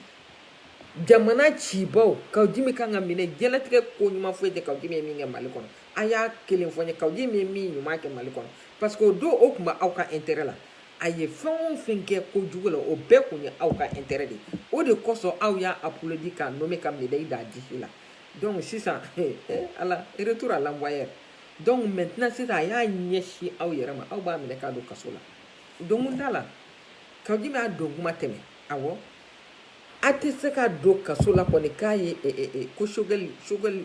jamana cibaw kawujim kan ka minɛ diɲɛlatigɛ ko ɲuman foyi tɛ kawujim ye min kɛ mali kɔnɔ a y'a kelen fɔ n ye kawujim ye min ɲuman kɛ mali kɔnɔ parce que o don o tun bɛ aw ka intérêt la a ye fɛn o fɛn kɛ ko jugu la o bɛɛ tun ye aw ka intérêt de ye o de kosɔn aw y'a applaudi k'a nommé ka médaille d'a disi la donc sisan ala retour à l'envoyeur donc maintenant sisan a y'a ɲɛsin aw yɛrɛ ma aw b'a minɛ k'a don kaso la donkun t'a la kawujim a don kuma tɛmɛ awɔ a tɛ se ka don kaso la kɔni k'a ye ko sogɛli sogɛli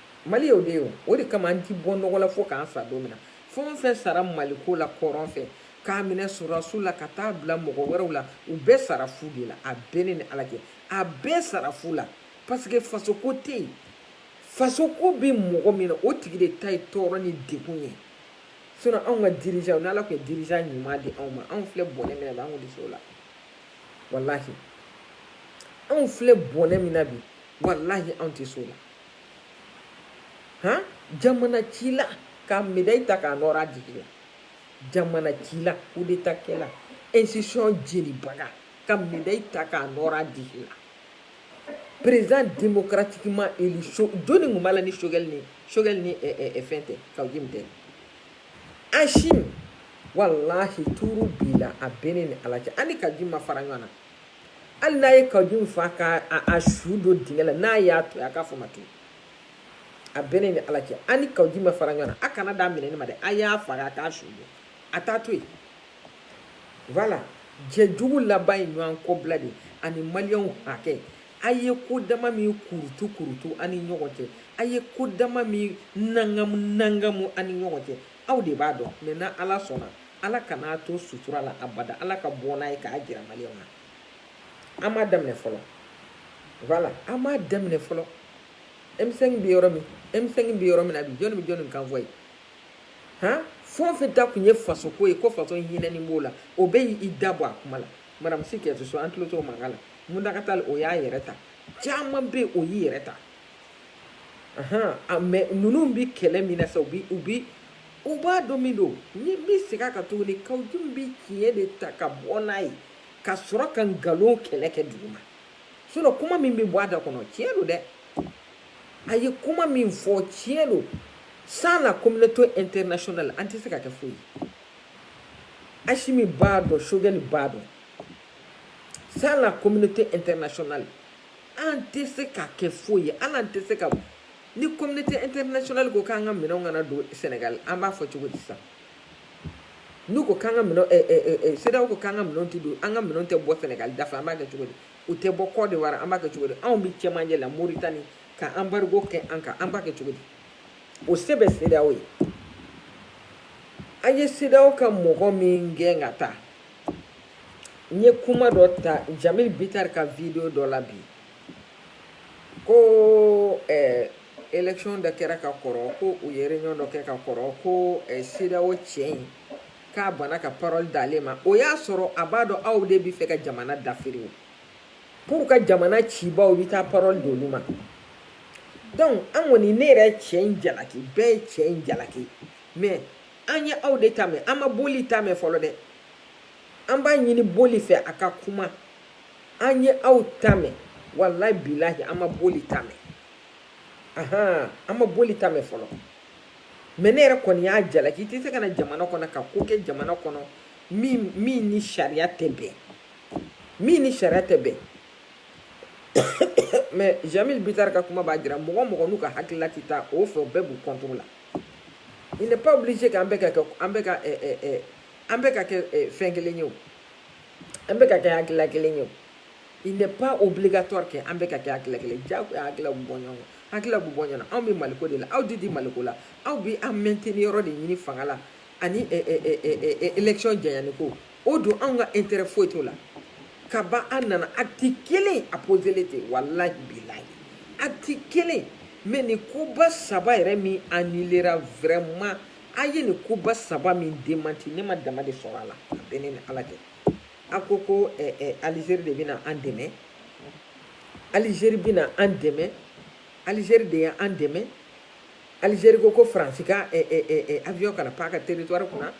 mali y'o de ye o de kama an ti bɔ nɔgɔ la fo k'an sa don min na fɛn o fɛn sara maliko la kɔrɔn fɛ k'a minɛ sɔrɔdasiw la ka taa bila mɔgɔ wɛrɛw la u bɛɛ sara fu de la a bɛ ne ni ala cɛ a bɛɛ sara fu la parce que fasoko tɛ yen fasoko bɛ mɔgɔ min na o tigi de ta ye tɔɔrɔ ni degun ye sinɔn anw ka dirijan ni ala tun ye dirijan ɲuman di anw ma anw filɛ bɔnɛ min na bi an tun tɛ se o la walahi anw filɛ bɔnɛ min na bi walahi anw tɛ se o la han jamana cila ka medayi ta k'a nɔrɔ a disi la jamana cila kudeta kɛla institution jenibaga ka medayi ta k'a nɔrɔ a disi la président démocratiquement élu jɔni tun b'a la ni sogɛli ni sogɛli ni fɛn tɛ kawujim tɛ asimi walahi tuuru b'i la a bɛ ne ni ala cɛ an ni kawujim ma fara ɲɔgɔn na hali n'a ye kawu jim faa k'a su don dingɛ la n'a y'a to a k'a fɔ ma to a bɛ ne ni ala cɛ an ni kawu jim ma fara ɲɔgɔn na a kana d'a minɛ ne ma dɛ a y'a faga a k'a su don a t'a to yen voilà jɛ jugu laban ye ɲɔgɔn kɔbila de ani maliyɛnw hakɛ a ye ko dama min kurutu kurutu an ni ɲɔgɔn cɛ a ye ko dama min nangamu nangamu an ni ɲɔgɔn cɛ aw de b'a dɔn mɛ n'ala sɔnna ala kan'a to sutura la abada ala ka bɔ n'a ye k'a jira maliyɛnw na an m'a daminɛ fɔlɔ voilà an m'a daminɛ fɔlɔ emisɛn bɛ yɔrɔ min emisɛn bɛ yɔrɔ min na bi jɔnni bɛ jɔnni kan fɔ ye han fɛn o fɛn ta kun ye faso ko ye ko faso hinɛni b'o la o bɛɛ y'i da bɔ a kuma la madamu si kajatu so an tulo t'o mankan la muntaga tali o y'a yɛrɛ ta caman bɛ yen o y'i yɛrɛ ta mɛ ninnu bɛ kɛlɛ min na sa u bɛ u bɛ u b'a dɔn min don ne bɛ segin a kan tuguni kawu jim bɛ tiɲɛ de ta ka bɔ n'a ye ka sɔrɔ ka nkalon kɛlɛ kɛ dugu ma sinɔn kuma min bɛ bɔ a da kɔnɔ tiɲɛ don dɛ a ye kuma min fɔ tiɲɛ don sans la communauté internationale an tɛ se ka kɛ foyi ye asimi b'a dɔn sogɛli b'a dɔn sans la communauté internationale an tɛ se ka kɛ foyi ye hali an tɛ se ka ni communauté internationale ko k'an ka minɛnw kana don Sénégal an b'a fɔ cogo di sisan n'u ko k'an ka minɛn ɛ ɛ ɛ CEDEAO ko k'an ka minɛnw tɛ don an ka minɛnw tɛ bɔ Sénégal da fɛ an b'a kɛ cogo di u tɛ bɔ Côte d'Ivoire an b'a kɛ cogo di anw bɛ cɛmancɛ la Mauritanie ka embargo kɛ an kan an b'a kɛ cogo di o se bɛ CEDEAO ye an ye CEDEAO ka mɔgɔ min gɛn ka taa n ye kuma dɔ ta jamil bitar ka video dɔ la bi ko eh, election dɔ kɛra ka kɔrɔ ko u ye réunion dɔ kɛ ka kɔrɔ ko eh, CEDEAO cɛ in k'a banna ka parole d'ale ma o y'a sɔrɔ a b'a dɔn aw de bɛ fɛ ka jamana dafiri o pour ka jamana cibaw bɛ taa parole d'olu ma donc an kɔni ne yɛrɛ cɛ in jalaki bɛɛ ye cɛ in jalaki mais an ye aw de ta mɛn an ma boli ta mɛn fɔlɔ dɛ an b'a ɲini boli fɛ a ka kuma an ye aw ta mɛn walayi bilahi an ma boli ta mɛn ahan an ma boli ta mɛn fɔlɔ mɛ ne yɛrɛ kɔni y'a jalaki i tɛ se ka na jamana kɔnɔ ka ko kɛ jamana kɔnɔ min min ni sariya tɛ bɛn min ni sariya tɛ bɛn mɛ jamil bitari ka kuma b'a jira mɔgɔ o mɔgɔ n'u ka hakilila tɛ taa o fɛ o bɛɛ b'u contre la Il n'est pas obligé que an bɛɛ ka kɛ an bɛɛ ka an bɛɛ ka kɛ fɛn kelen ye o an bɛɛ ka kɛ hakilila kelen ye o il n'est pas obligatoire que an bɛɛ ka kɛ hakilila kelen jagoya hakilila bɛ bɔ ɲɔgɔn kan hakilila bɛ bɔ ɲɔgɔn na anw bɛ maliko de la aw de tɛ maliko la aw bɛ an maintenir yɔrɔ de ɲini fanga la ani élection janyani ko o don anw ka intérêt foyi t'o la ka ban an nana acte kelen a poselen tɛ walahi bilahi acte kelen mais nin koba saba yɛrɛ min annulera vraiment a ye nin koba saba min démenti ne ma dama de sɔrɔ a la a bɛ ne ni ala cɛ a ko ko eh, eh, alizeri de bɛna an dɛmɛ alizeri bɛna an dɛmɛ alizeri de ye an dɛmɛ alizeri ko ko faransi ka eh, eh, eh, eh, avion kana pan a ka territoire kunna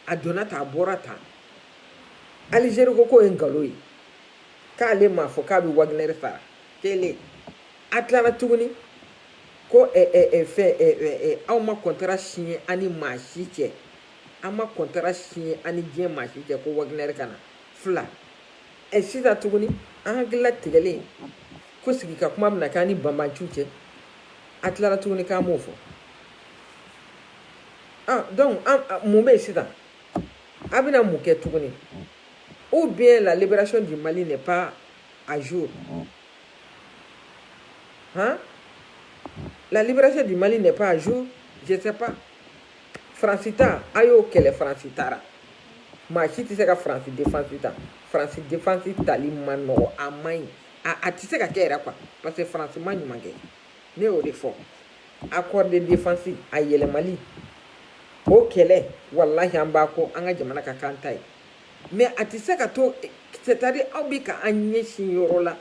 a donna ta a bɔra ta alizeri ko k'o ye nkalon ye k'ale m'a fɔ k'a bɛ waginɛri fara kelen a tilala tuguni ko fɛn aw ma kɔntara siɲɛ an ni maa si cɛ an ma kɔntara siɲɛ an ni diɲɛ maa si cɛ ko waginɛri ka na filɛ sisan tuguni an hakili latigɛlen ko sigi ka kuma bɛna k'an ni banbanciw cɛ a tilala tuguni k'an m'o fɔ ah, donc ah, ah, mun bɛ yen sisan a bɛna mun kɛ tuguni ou bien la libération du Mali n'est pas à jour hein la libération du Mali n'est pas à jour je sais pas France ta a y'o kɛlɛ France taara maa si tɛ se ka France défense ta France défense tali man nɔgɔn a man ɲi a a tɛ se ka kɛ yɛrɛ quoi parce que France ma ɲuman kɛ. ne y'o de fɔ accord de défense a yɛlɛmali o kɛlɛ walahi an b'a kɔ an ka jamana ka kan ta ye mais a tɛ se ka to c'est à dire aw bɛ ka an ɲɛsin yɔrɔ la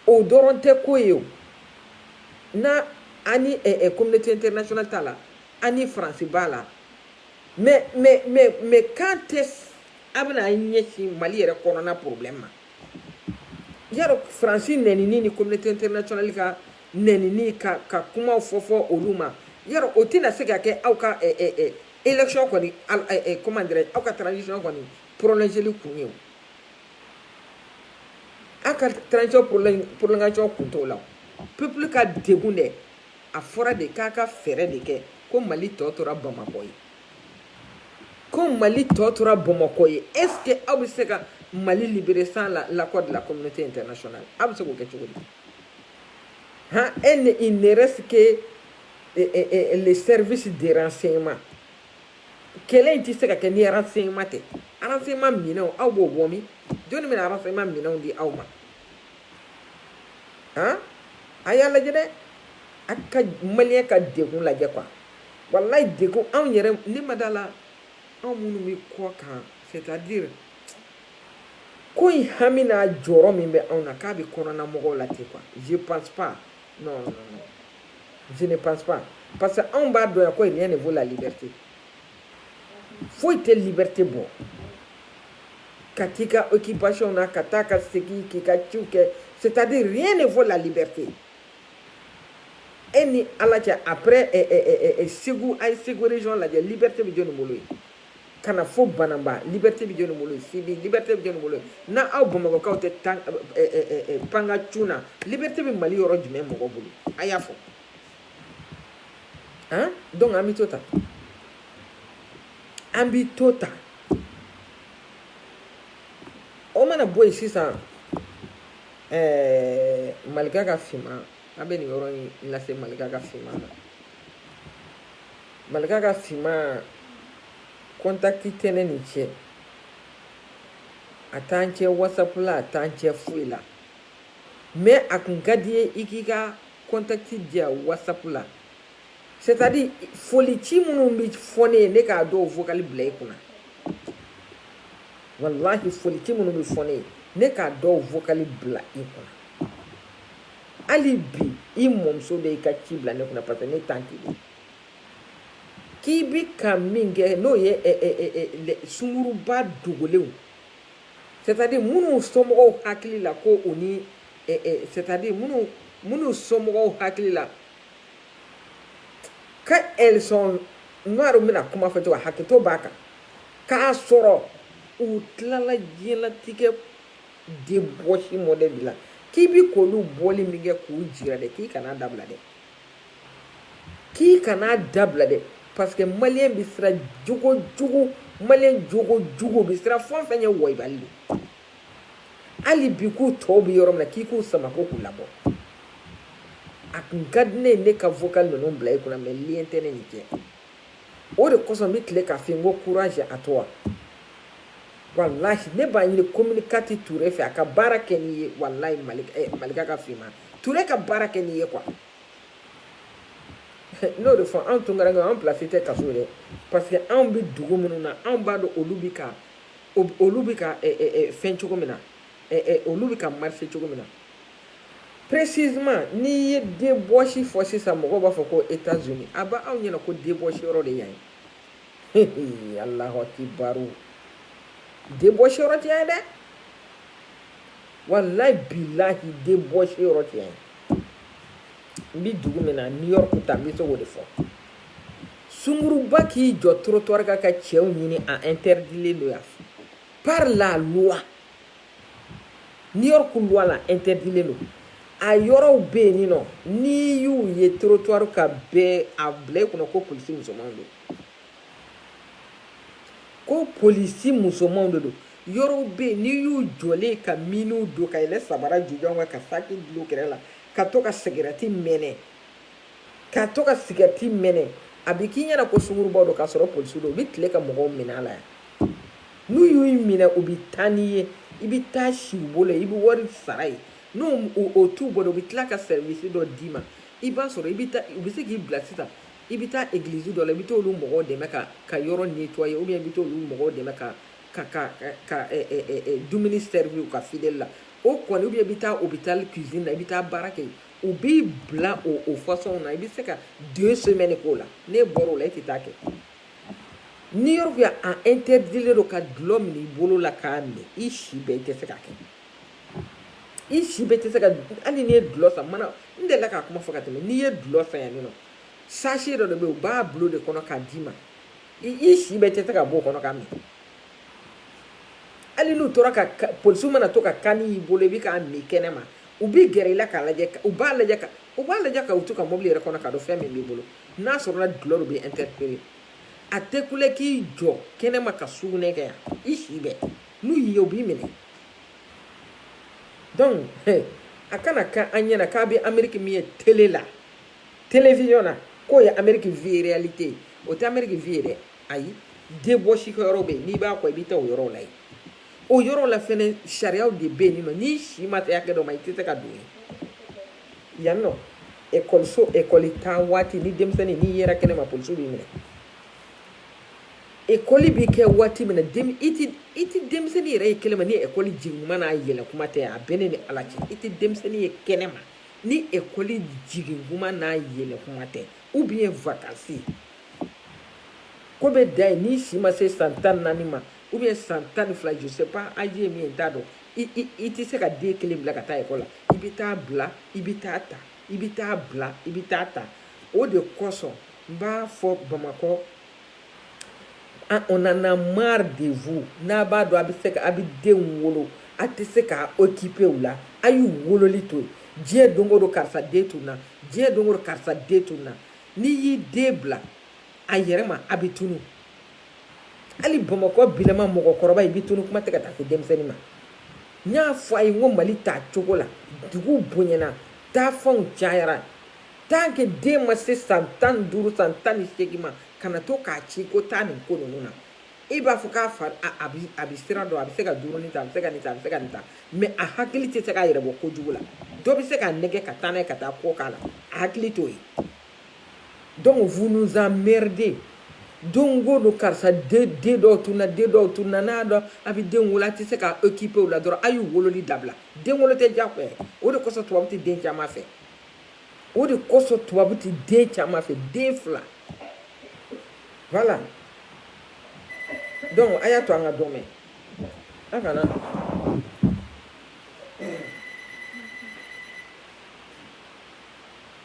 o dɔrɔn tɛ ko ye o na ani eh, eh, communauté internationale ta la ani faransi b'a la mais mais mais mais quand est-ce an bɛna an ɲɛsin mali yɛrɛ kɔnɔna problème ma y'a dɔn faransi nɛnini ni communauté internationale ka nɛnini ka ka kumaw fɔ fɔ olu ma y'a dɔn o tɛna se ka kɛ aw ka ɛ ɛ ɛ élection kɔni ɛ comment dirais aw ka transition kɔni prolongeli kun ye o aw ka transition prolongation kun t'o la peuple ka degun dɛ a fɔra de k'a ka fɛɛrɛ de kɛ ko mali tɔ tora bamakɔ ye ko mali tɔ tora bamakɔ ye est ce que aw bɛ se ka mali libérer sans la l'accord de la communauté internationale aw bɛ se k'o kɛ cogo di han e ne il ne reste que eh, eh, eh, les services de renseignement kɛlɛ in tɛ se ka kɛ ni renseignement tɛ renseignement minɛnw aw b'o bɔ min jɔni bɛna renseignement minɛnw di aw ma han a y'a lajɛ dɛ a ka maliyɛn ka degun lajɛ quoi walayi de ko anw yɛrɛ le ma da la anw minnu bɛ kɔkan c'est-à-dire ko in hami n'a jɔrɔ min bɛ anw na k'a bɛ kɔnɔna mɔgɔw la ten quoi je pense pas non non non je ne pense pas parce que anw b'a dɔn yan ko rien ne vaut la liberté foyi tɛ liberté bɔ ka t'i ka occupation na ka taa ka segin k'i ka ciw kɛ c'est-à-dire rien ne vaut la liberté e ni ala cɛ après eh, eh, eh, segu a ye segu région lajɛ liberté bɛ jɔni bolo yen ka na fo bananba liberté bɛ jɔni bolo yen sibi liberté bɛ jɔni bolo yen n'aw bamakɔkaw tɛ pan ka cun na liberté bɛ mali yɔrɔ jumɛn mɔgɔ bolo a y'a fɔ han donc an bɛ to tan an bɛ to tan o mana bɔ yen sisan ɛɛ malika ka finman an bɛ nin yɔrɔ in lase malika ka finman ma malika ka finman kɔntakiti tɛ ne n'i cɛ a t'an cɛ whatsapp la a t'an cɛ foyi la mais a kun ka di n ye i k'i ka kɔntakiti di yan whatsapp la c'est à dire foli ci minnu bɛ fɔ ne ye ne k'a dɔw vocali bila i kunna walahi foli ci minnu bɛ fɔ ne ye ne k'a dɔw vocali bila i kunna hali bi i mɔmuso de y'i ka ci bila ne kunna parce que ne tan t'i de k'i bɛ ka min kɛ n'o ye eh, eh, eh, sunguruba dogolenw c'est à dire minnu somɔgɔw hakili la ko o ni c'est à dire minnu minnu somɔgɔw hakili la ka election n'o bɛna kuma fɔ cogo hakɛto b'a kan k'a sɔrɔ u tilala diɲɛlatigɛ débauche mɔdɛli bɛɛ la k'i bɛ k'olu bɔli min kɛ k'u jira dɛ k'i kana dabila dɛ k'i kana dabila dɛ parce que maliyɛn bɛ siran jogo jugu maliyɛn jogo jugu bɛ siran fɛn fɛn ɲɛ wɔyibali de hali bi k'u tɔw bɛ yɔrɔ min na k'i k'u sama ko k'u labɔ a kun ka di ne ye ne ka vocal ninnu bila i kunna mais lien tɛ ne n'i cɛ o de kosɔn n bɛ tila k'a f'i ye n ko courage à toi walahi ne b'a ɲini communicateurw fɛ a ka baara kɛ n'i ye walahi eh, malika ka finman ture ka baara kɛ n'i ye quoi n b'o de fɔ anw tunkarankew anw pilasi tɛ kaso dɛ parce que anw bɛ dugu minnu na anw b'a dɔn olu bɛ ka olu bɛ ka fɛn cogo min na olu bɛ ka marcher cogo min na précisément n'i ye débauche fɔ sisan mɔgɔ b'a fɔ ko états-unis a b'aw ɲɛna ko débauche yɔrɔ de yan ye alahu akibaru débauche yɔrɔ tɛ yan ye dɛ walahi bilahi débauche yɔrɔ tɛ yan ye n bɛ dugu min na new york ta n bɛ se k'o de fɔ sunguruba k'i jɔ trottoir kan ka cɛw ɲini a interdilen don yan par la loi New York loi la interdilen don a yɔrɔw bɛ yen nɔ n'i y'u ye trottoir kan bɛɛ a bila i kɔnɔ ko polisi musomanw don ko polisi musomanw de don yɔrɔw bɛ yen n'i y'u jɔlen ka miniw don ka yɛlɛ sabara jujan kan ka saki dulon kɛrɛ la ka to ka sigɛrɛti mɛnɛ ka to ka sigɛriti mɛnɛ a bɛ k'i ɲɛna ko sunguruba don k'a sɔrɔ polisiw don u bɛ tile ka mɔgɔw minɛ a la yan n'u y'u minɛ u bɛ taa n'i ye i bɛ taa si u bolo i bɛ wari sara yen n'o o t'i bolo u bɛ tila ka sɛrivisi dɔ d'i ma i b'a sɔrɔ i bɛ taa u bɛ se k'i bila sisan i bɛ taa egilizi dɔ la i bɛ t'olu mɔgɔw dɛmɛ ka ka yɔrɔ netwaye ou bien i bɛ t'olu mɔgɔw dɛmɛ ka ka ka ka dumuni sɛrivi u ka fideli la o kɔni ou bien i bɛ taa opitali kizini na i bɛ taa baara kɛ yen u b'i bila o o fasɔnw na i bɛ se ka deux semaines k'o la n'e bɔra o la e tɛ taa kɛ ni yɔrɔ bɛ a interdit don ka dulɔ minɛ i bolo la k'a min i si bɛɛ i tɛ se k'a kɛ i si bɛɛ tɛ se ka hali n'i ye dulɔ san mana n delila k'a kuma fɔ ka tɛmɛ n'i ye dulɔ san yan nɔ sachet dɔ de bɛ yen u b'a bil'o de kɔnɔ k'a d'i ma i si bɛɛ tɛ se k'a bɔ o kɔnɔ k'a min hali n'u tora ka polisiw mana to ka kanni y'i bolo i bɛ k'a min kɛnɛma u b'i gɛrɛ i la k'a lajɛ u b'a lajɛ ka u b'a lajɛ ka to u ka mɔbili yɛrɛ kɔnɔ k'a dɔn fɛn min b'i bolo n'a sɔrɔla dulɔ de u b'i interpellé a tɛ kule k'i jɔ kɛnɛma ka sugunɛ kɛ yan i si bɛɛ n'u y'i ye u b'i minɛ donc a kana kɛ aw ɲɛna k'a bɛ ameriki min ye tele la télévision na k'o ye ameriki vraie réalité ye o tɛ ameriki vrai ye dɛ ayi debɔsi kɛ yɔrɔ bɛ yen n'i b'a kɔ i bɛ taa o yɔrɔw la yen o yɔrɔ la fɛnɛ sariyaw de bɛ yen nɔ n'i si ma se hakɛ dɔ ma i tɛ se ka don yen yan nɔ ekɔliso ekɔli taa waati ni denmisɛnnin n'i yera kɛnɛ ma polisiw b'i minɛ ekɔli bɛ kɛ waati min na den i tɛ i tɛ denmisɛnnin yɛrɛ ye kɛnɛ ma ni ekɔli jigin kuma n'a yɛlɛ kuma tɛ a bɛ ne ni ala cɛ i tɛ denmisɛnnin ye kɛnɛ ma ni ekɔli jigin kuma n'a yɛlɛ kuma tɛ ou bien vacances ko bɛ da yen n'i si ma se san tan ni naani ma ou bien san tan ni fila je sais pas âge ye min ye n t'a dɔn i tɛ se ka den kelen bila ka taa ekɔli la i bɛ t'a bila i bɛ t'a ta i bɛ t'a bila i bɛ t'a ta o de kosɔn n b'a fɔ bamakɔ on en a marre de vous n'a b'a dɔn a bɛ se a bɛ denw wolo a tɛ se ka occuper u la a y'u wololi to yen diɲɛ don go don karisa den tununna diɲɛ don go don karisa den tununna n'i y'i den bila a yɛrɛ ma a bɛ tunun hali bamakɔ bilama mɔgɔkɔrɔba i bɛ tunu kuma tɛ ka taa se denmisɛnnin ma n y'a fɔ a ye n ko mali t'a cogo la dugu bonyana taafanw cayara tant que den ma se san tan ni duuru san tan ni seegin ma kana to k'a ci ko taa nin ko ninnu na i b'a fɔ k'a fa a bi a bi sira dɔn a bɛ se ka dumuni ta a bɛ se ka nin ta a bɛ se ka nin ta mɛ a hakili tɛ se k'a yɛrɛ bɔ kojugu la dɔ bɛ se k'a nɛgɛn ka taa n'a ye ka taa ko k'a la a hakili t'o ye donc vous nous emmerdez don go don karisa den dɔw tunna den dɔw tunna n'a dɔn a bɛ den wolo a tɛ se ka okipe o la dɔrɔn a y'u wololi dabila den wolo tɛ diyagoya ye o de kosɔn tubabu tɛ den caman fɛ o de kosɔn tubabu tɛ den caman fɛ den fila voilà donc a y'a to an ka dɔ mɛn a kana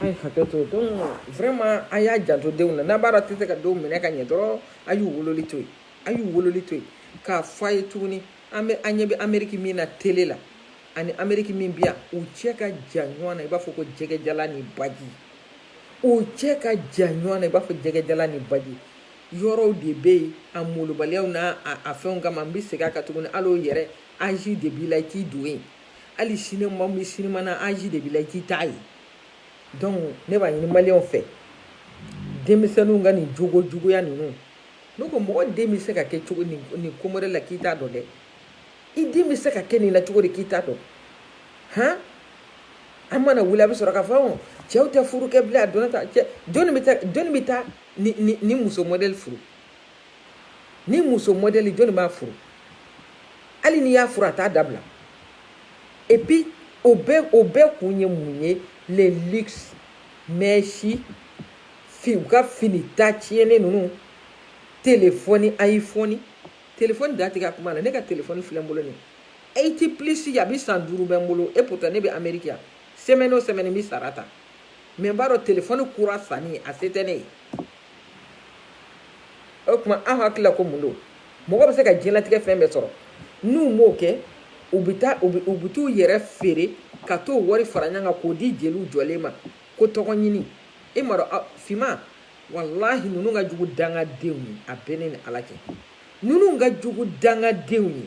A ye hakɛ to donc vraiment a y'a janto denw na n'a b'a tɛ se ka denw minɛ ka ɲɛ dɔrɔn a y'u wololi to yen a y'u wololi to yen k'a fɔ a ye tuguni an bɛ an ɲɛ bɛ ameriki min na tele la ani ameriki min bi yan u cɛ ka jan ɲɔgɔn na i b'a fɔ ko jɛgɛjalan ni baji u cɛ ka jan ɲɔgɔn na i b'a fɔ jɛgɛjalan ni baji yɔrɔw de bɛ yen a malobaliya n'a a fɛnw kama n bɛ segin a kan tuguni ala yɛrɛ âge de b'i la i t'i don yen hali sinima min sinima na âge de b'i la i tɛ taa yen donc ne b'a ɲini maliyɛnw fɛ denmisɛnninw ka nin jogo juguya ninnu ne ko mɔgɔ den bɛ se ka kɛ cogo nin nin ko wɛrɛ la k'i t'a dɔn dɛ i den bɛ se ka kɛ nin na cogo di k'i t'a dɔn han an mana wuli a bɛ sɔrɔ k'a fɔ ɔn cɛw tɛ furu kɛ bilen a donna ta cɛ jɔnni bɛ taa jɔnni bɛ taa ni ni ni muso mɔdɛli furu ni muso mɔdɛli jɔnni b'a furu hali n'i y'a furu a t'a dabila et puis o bɛɛ o bɛɛ kun ye mun ye le luxe mɛsi fi u ka fini ta tiɲɛnen ninnu telefɔni ayifɔni telefɔni da tigɛ a kuma na ne ka telefɔni filɛ n bolo nin eight plus a bɛ san duuru bɔ n bolo et pourtant ne bɛ ameriki yan semaine o semaine n bɛ sara ta mɛ n b'a dɔn telefɔni kura sanni a se tɛ ne ye o tuma aw hakili la ko mun don mɔgɔ bɛ se ka diɲɛlatigɛ fɛn bɛɛ sɔrɔ n'u m'o kɛ u bɛ taa u bɛ t'u yɛrɛ feere ka t'o wari fara ɲɔgɔn kan k'o di jeliw jɔlen ma ko tɔgɔ ɲini e ma dɔn finman walahi ninnu ka jugu dangadenw ye a bɛ ne ni ala cɛ ninnu ka jugu dangadenw ye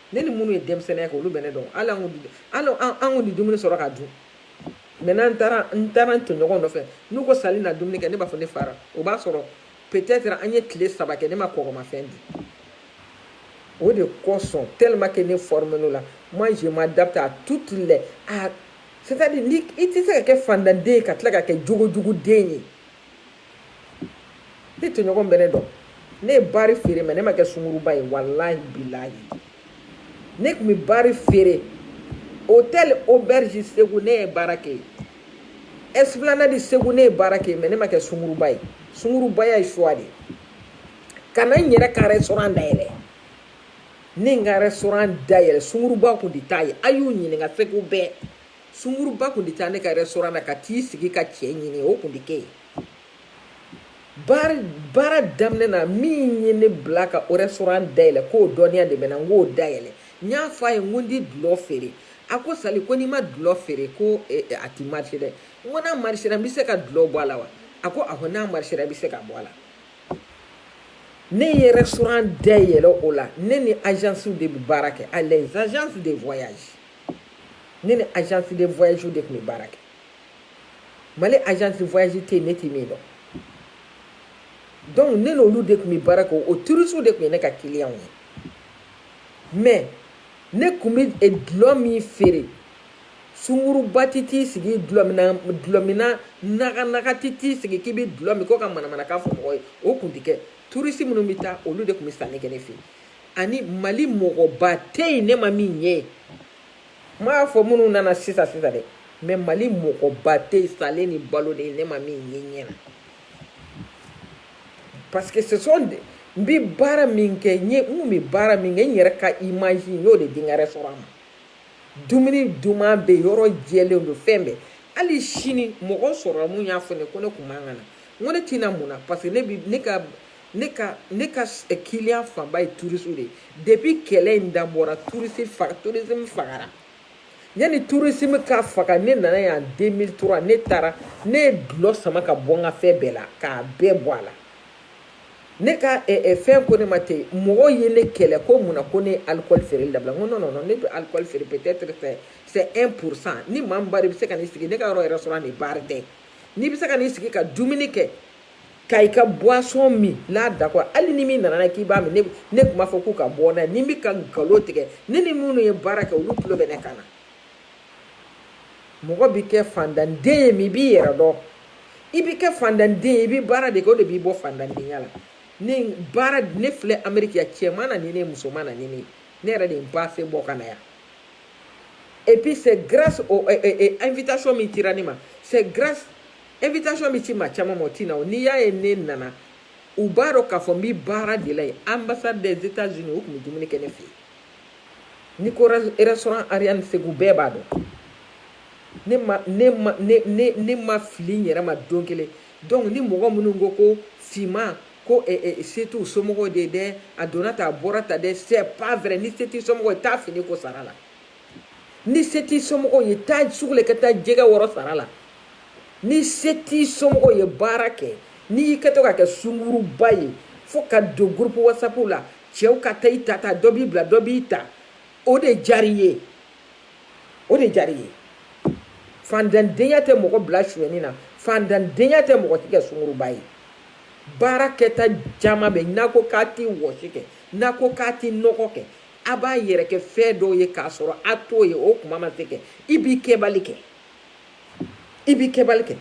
ne ni minnu ye denmisɛnninya kɛ olu bɛ ne dɔn hali an kun hali an kun ti dumuni sɔrɔ ka dun mɛ n'an taara n taara n tɔɲɔgɔnw nɔfɛ n'u ko sali na dumuni kɛ ne b'a fɔ ne fara o b'a sɔrɔ peut-être an ye tile saba kɛ ne ma kɔgɔmafɛn dun o de kosɔn tellement que ne formen'o la moi je m'adapte à toutes les à c'est-à-dire ni i tɛ se ka kɛ faantanden ye ka tila ka kɛ jogojuguden ye ne tɔɲɔgɔn bɛ ne dɔn ne ye baari feere mais ne ma kɛ sunguruba ye walahi bilahi ne tun bɛ baari feere hôtel l'auberge segu ne ye baara kɛ yen esplanade segu ne ye baara kɛ yen mais ne ma kɛ sunguruba ye sungurubaya ye choix de ye ka na n yɛrɛ ka restaurant dayɛlɛ ne n ka restaurant dayɛlɛ sunguruba kun tɛ taa yen a y'u ɲininka segu bɛɛ sunguruba kun tɛ taa ne ka restaurant na ka t'i sigi ka cɛ ɲini o kun tɛ kɛ yen baara baara daminɛ na min ye ne bila ka restaurant dayɛlɛ k'o dɔnniya de bɛ n na n k'o dayɛlɛ n y'a fɔ a ye n ko n tɛ dulɔ feere a ko sali ko n'i ma dulɔ feere ko eh, eh, a tɛ marché dɛ n ko n'a marché n bɛ se ka dulɔ bɔ a la wa a ko awɔ n'a marché i bɛ se ka bɔ a la ne ye restaurant dayɛlɛ o la ne ni agence de bɛ baara kɛ a les agences de voyage ne ni agence de voyage de tun bɛ baara kɛ mali agence de voyage tɛ yen ne tɛ min dɔn donc ne n'olu de tun bɛ baara kɛ o turisiw de tun ye ne ka kiliyanw ye mais ne tun bɛ eh, dulɔ min feere sunguruba tɛ t'i sigi dulɔminna dulɔminna naganaga tɛ t'i sigi k'i bɛ dulɔ min ko ka manamanakan fɔ mɔgɔ ye o tun tɛ kɛ turisi minnu bɛ taa olu de tun bɛ sanni kɛ ne fɛ yen ani mali mɔgɔba tɛ yen ne ma min ɲɛ ye n m'a fɔ minnu nana sisan sisan dɛ mais mali mɔgɔba tɛ yen salen ni balo de ye ne ma min ye ɲɛ na parce que ce sont des n bɛ baara min kɛ n ye n kun bɛ baara min kɛ n yɛrɛ ka image n y'o de di n ka restaurant ma dumuni duman bɛ yɔrɔ jɛlen don fɛn bɛɛ hali sini mɔgɔ sɔrɔla mun y'a fɔ ne ko ne kun man kan ka na n ko ne tɛ na mun na parce que ne bi ne ka ne ka ne ka kiliyan eh, fanba ye turisiw de ye depuis kɛlɛ in dabɔra turisi faga turisime fagara yanni turisime ka faga ne nana yan 2003 ne taara ne ye dulɔ sama ka bɔ n ka fɛn bɛɛ la k'a bɛɛ bɔ a la ne ka eh, eh, fɛn ko ne ma ten mɔgɔw ye ne kɛlɛ ko mun na ko ne ye alikɔli feereli dabila n ko non non non ne bɛ alikɔli feere peut être c'est c'est 1 pour cent ni maa min b'a dɔn i bɛ se ka n'i sigi ne ka yɔrɔ restaurant de baari tɛ n'i bɛ se ka n'i sigi ka dumuni kɛ ka i ka boisson min là d'accord hali ni min nana k'i b'a min ne ne tun b'a fɔ k'u ka bɔ n'a ye ni n bɛ ka nkalon tigɛ ne ni minnu ye baara kɛ olu tulo bɛ ne kan na mɔgɔ bɛ kɛ fandanden ye min b'i yɛrɛ dɔn i bɛ kɛ fandanden ye i bɛ baara de kɛ o de b'i bɔ fandandenya la ne baara ne filɛ ameriki yan cɛ ma na ni ne muso ma na ni ne ne yɛrɛ de ye n paase bɔ ka na yan et puis c'est grâce au eh, eh, eh, invitation min cira ne ma c'est grâce invitation bɛ ci maa caman ma o tɛ na o n'i y'a ye ne nana u b'a dɔn k'a fɔ n bɛ baara de la yen ambassade des états unis u tun bɛ dumuni kɛ ne fɛ yen ni ko restaurant ariane segu bɛɛ b'a dɔn ne ma ne ma ne ne ne ma fili n yɛrɛ ma don kelen donc ni mɔgɔ minnu ko ko finman ko eh, eh, se t'u somɔgɔw de ye dɛ a donna tan a bɔra tan dɛ c'est pas vrai ni se t'i somɔgɔ ye taa fini ko sara la ni se t'i somɔgɔw ye taa sugu la i ka taa jɛgɛ wɔrɔ sara la ni se t'i somɔgɔw ye baara kɛ n'i y'i kɛtɔ ka kɛ sunguruba ye fo ka don groupe whatsapp la cɛw ka taa i ta ta dɔ b'i bila dɔ b'i ta o de jari ye o de jari ye faantandenya tɛ mɔgɔ bila suɲɛni na faantandenya tɛ mɔgɔ k'i kɛ sunguruba ye baara kɛta caman bɛ n'a ko k'a tɛ wɔsi kɛ n'a ko k'a tɛ nɔgɔ kɛ a b'a yɛrɛ kɛ fɛn dɔw ye k'a sɔrɔ a t'o ye o kuma ma se kɛ i b'i kɛbali kɛ i b'i kɛbali kɛ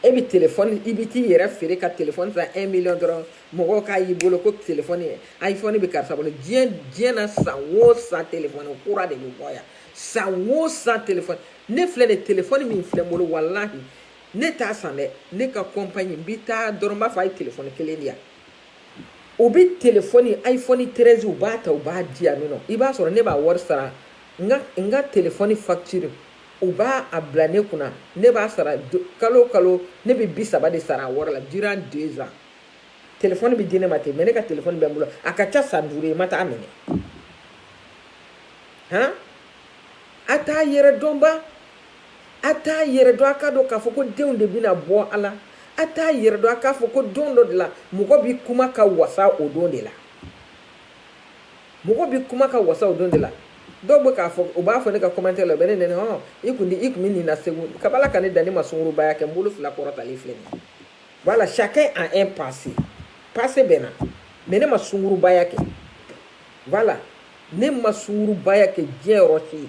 e bɛ telefɔni i bɛ t'i yɛrɛ feere ka telefɔni san un million dɔrɔn mɔgɔw k'a y'i bolo ko telefɔni iphone bɛ karisa bolo diɲɛ diɲɛ na san o san telefɔni kura de bɛ bɔ yan san o san telefɔni ne filɛ nin telefɔni min filɛ n bolo walahi ne t'a san dɛ ne ka kɔnpanyi n bɛ taa dɔrɔn n b'a fɔ a ye telefɔni kelen di yan. u bɛ telefɔni iphone treize u b'a ta u b'a di yan nɔ i b'a sɔrɔ ne b'a wari sara n ka n ka telefɔni facture u b'a a bila ne kunna ne b'a sara kalo o kalo ne bɛ bi saba de sara a wari la durant deux ans telefɔni bɛ di ne ma ten mais ne ka telefɔni bɛ n bolo a ka ca san duuru ye ma taa minɛ han a t'a yɛrɛ dɔn ba a t'a yɛrɛ dɔn a k'a dɔn k'a fɔ ko denw de bɛna bɔ a la a t'a yɛrɛ dɔn a k'a fɔ ko don dɔ de la mɔgɔ bɛ kuma ka wasa o don de la mɔgɔ bɛ kuma ka wasa o don de la dɔw bɛ k'a fɔ u b'a fɔ ne ka commentaire la u bɛ ne neni hɔn i kun i kun bɛ nin na segu kabi ala ka ne dan ne ma sungurubaya kɛ n bolo fila kɔrɔtalen filɛ nin voilà chacun a un passé passé bɛ n na mais ne ma sungurubaya kɛ walahi ne ma sungurubaya kɛ diɲɛ yɔrɔ si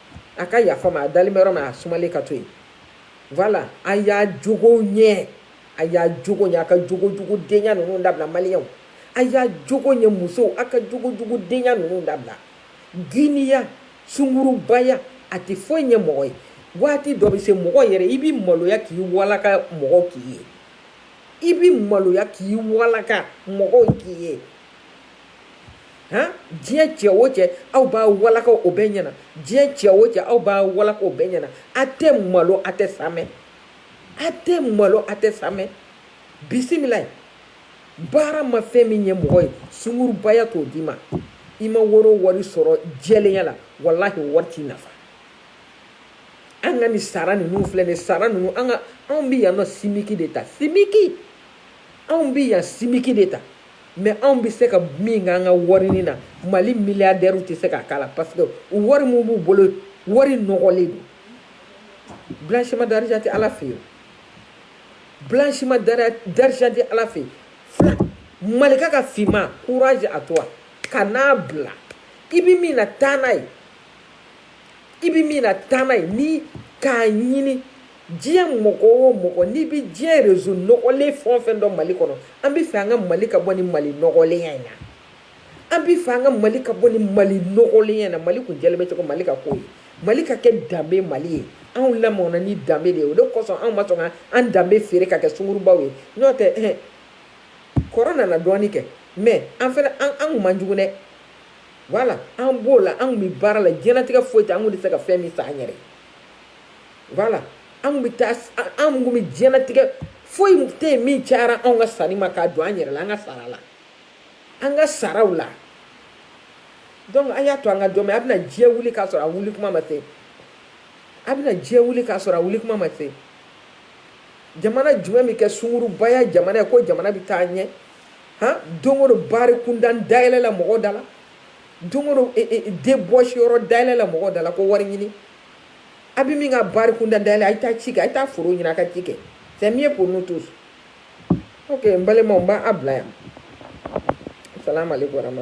a ka yafa n ma a dalen bɛ yɔrɔ min a sumalen ka to yen voilà a y'a jogo ɲɛ a y'a jogo ɲɛ a ka jogo jugu denya ninnu dabila maliyɛnw a y'a jogo ɲɛ musow a ka jogo jugu denya ninnu dabila giniya sungurubaya a tɛ foyi ɲɛ mɔgɔ ye waati dɔ bɛ se mɔgɔ yɛrɛ i bɛ maloya k'i walaka mɔgɔw k'i ye i bɛ maloya k'i walaka mɔgɔw k'i ye han, diɲɛ cɛ o cɛ aw b'a walaka o bɛɛ ɲɛna, diɲɛ cɛ o cɛ aw b'a walaka o bɛɛ ɲɛna, a tɛ malo a tɛ saamɛ, a tɛ malo a tɛ saamɛ, bisimilayi, baara ma fɛn min ɲɛ mɔgɔ ye sungurubaya t'o d'i ma, i ma wari o wari sɔrɔ jɛlenya la walahi o wari t'i nafa, an ka nin sara ninnu filɛ nin sara ninnu an ka anw bɛ yan nɔ simiki de ta simiki anw bɛ yan simiki de ta mɛ anw bɛ se ka min kɛ an ka warini na mali miliyadɛriw tɛ se k'a k'a la parce que wari min b'u bolo wari nɔgɔlen don blanchiment d'argent tɛ ala fɛ yen blanchiment d'argent tɛ ala fɛ yen malika ka finman courage à toi kan'a bila i bɛ min na taa n'a ye i bɛ min na taa n'a ye ni k'a ɲini diɲɛ mɔgɔ o mɔgɔ n'i bɛ diɲɛ réseau nɔgɔlen fɛn o fɛn dɔn mali kɔnɔ an bɛ fɛ an ka mali ka bɔ ni mali nɔgɔlenya in na an bɛ fɛ an ka mali ka bɔ ni mali nɔgɔlenya in na mali kun jɛlen bɛ cogo mali ka k'o ye mali ka kɛ danbe mali ye anw lamɔna ni danbe de ye o de kosɔn anw ma sɔn ka an danbe feere ka kɛ sungurubaw ye n'o tɛ ɛhɛn kɔrɔ nana dɔɔni kɛ mɛ an fana an an kun man jugu dɛ wala an b'o la an kun bɛ baara la diɲɛlatigɛ foyi tɛ an kun tɛ se ka fɛn min san an yɛrɛ ye wala anw bɛ taa anw kun bɛ diɲɛlatigɛ foyi tɛ yen min cayara anw ka sanni ma k'a don an yɛrɛ la an ka sara la an ka saraw la donc an y'a to an ka dɔn mɛ a bɛna diɲɛ wuli k'a sɔrɔ a wuli kuma ma se a bɛna diɲɛ wuli k'a sɔrɔ a wuli kuma ma se jamana jumɛn bɛ kɛ sungurubaya jamana ye ko jamana bɛ taa ɲɛ han don o don bari kuntan dayɛlɛ la mɔgɔw da la don den bɔsi yɔrɔ dala la mɔgɔ dala la ko wari ɲini a bɛ min ka bari kunda dala la a taa ci kɛ a taa foro ɲini a ka ci kɛ fɛn min ye ko n'u to n balima b'a bila yan sa ma bɔra ma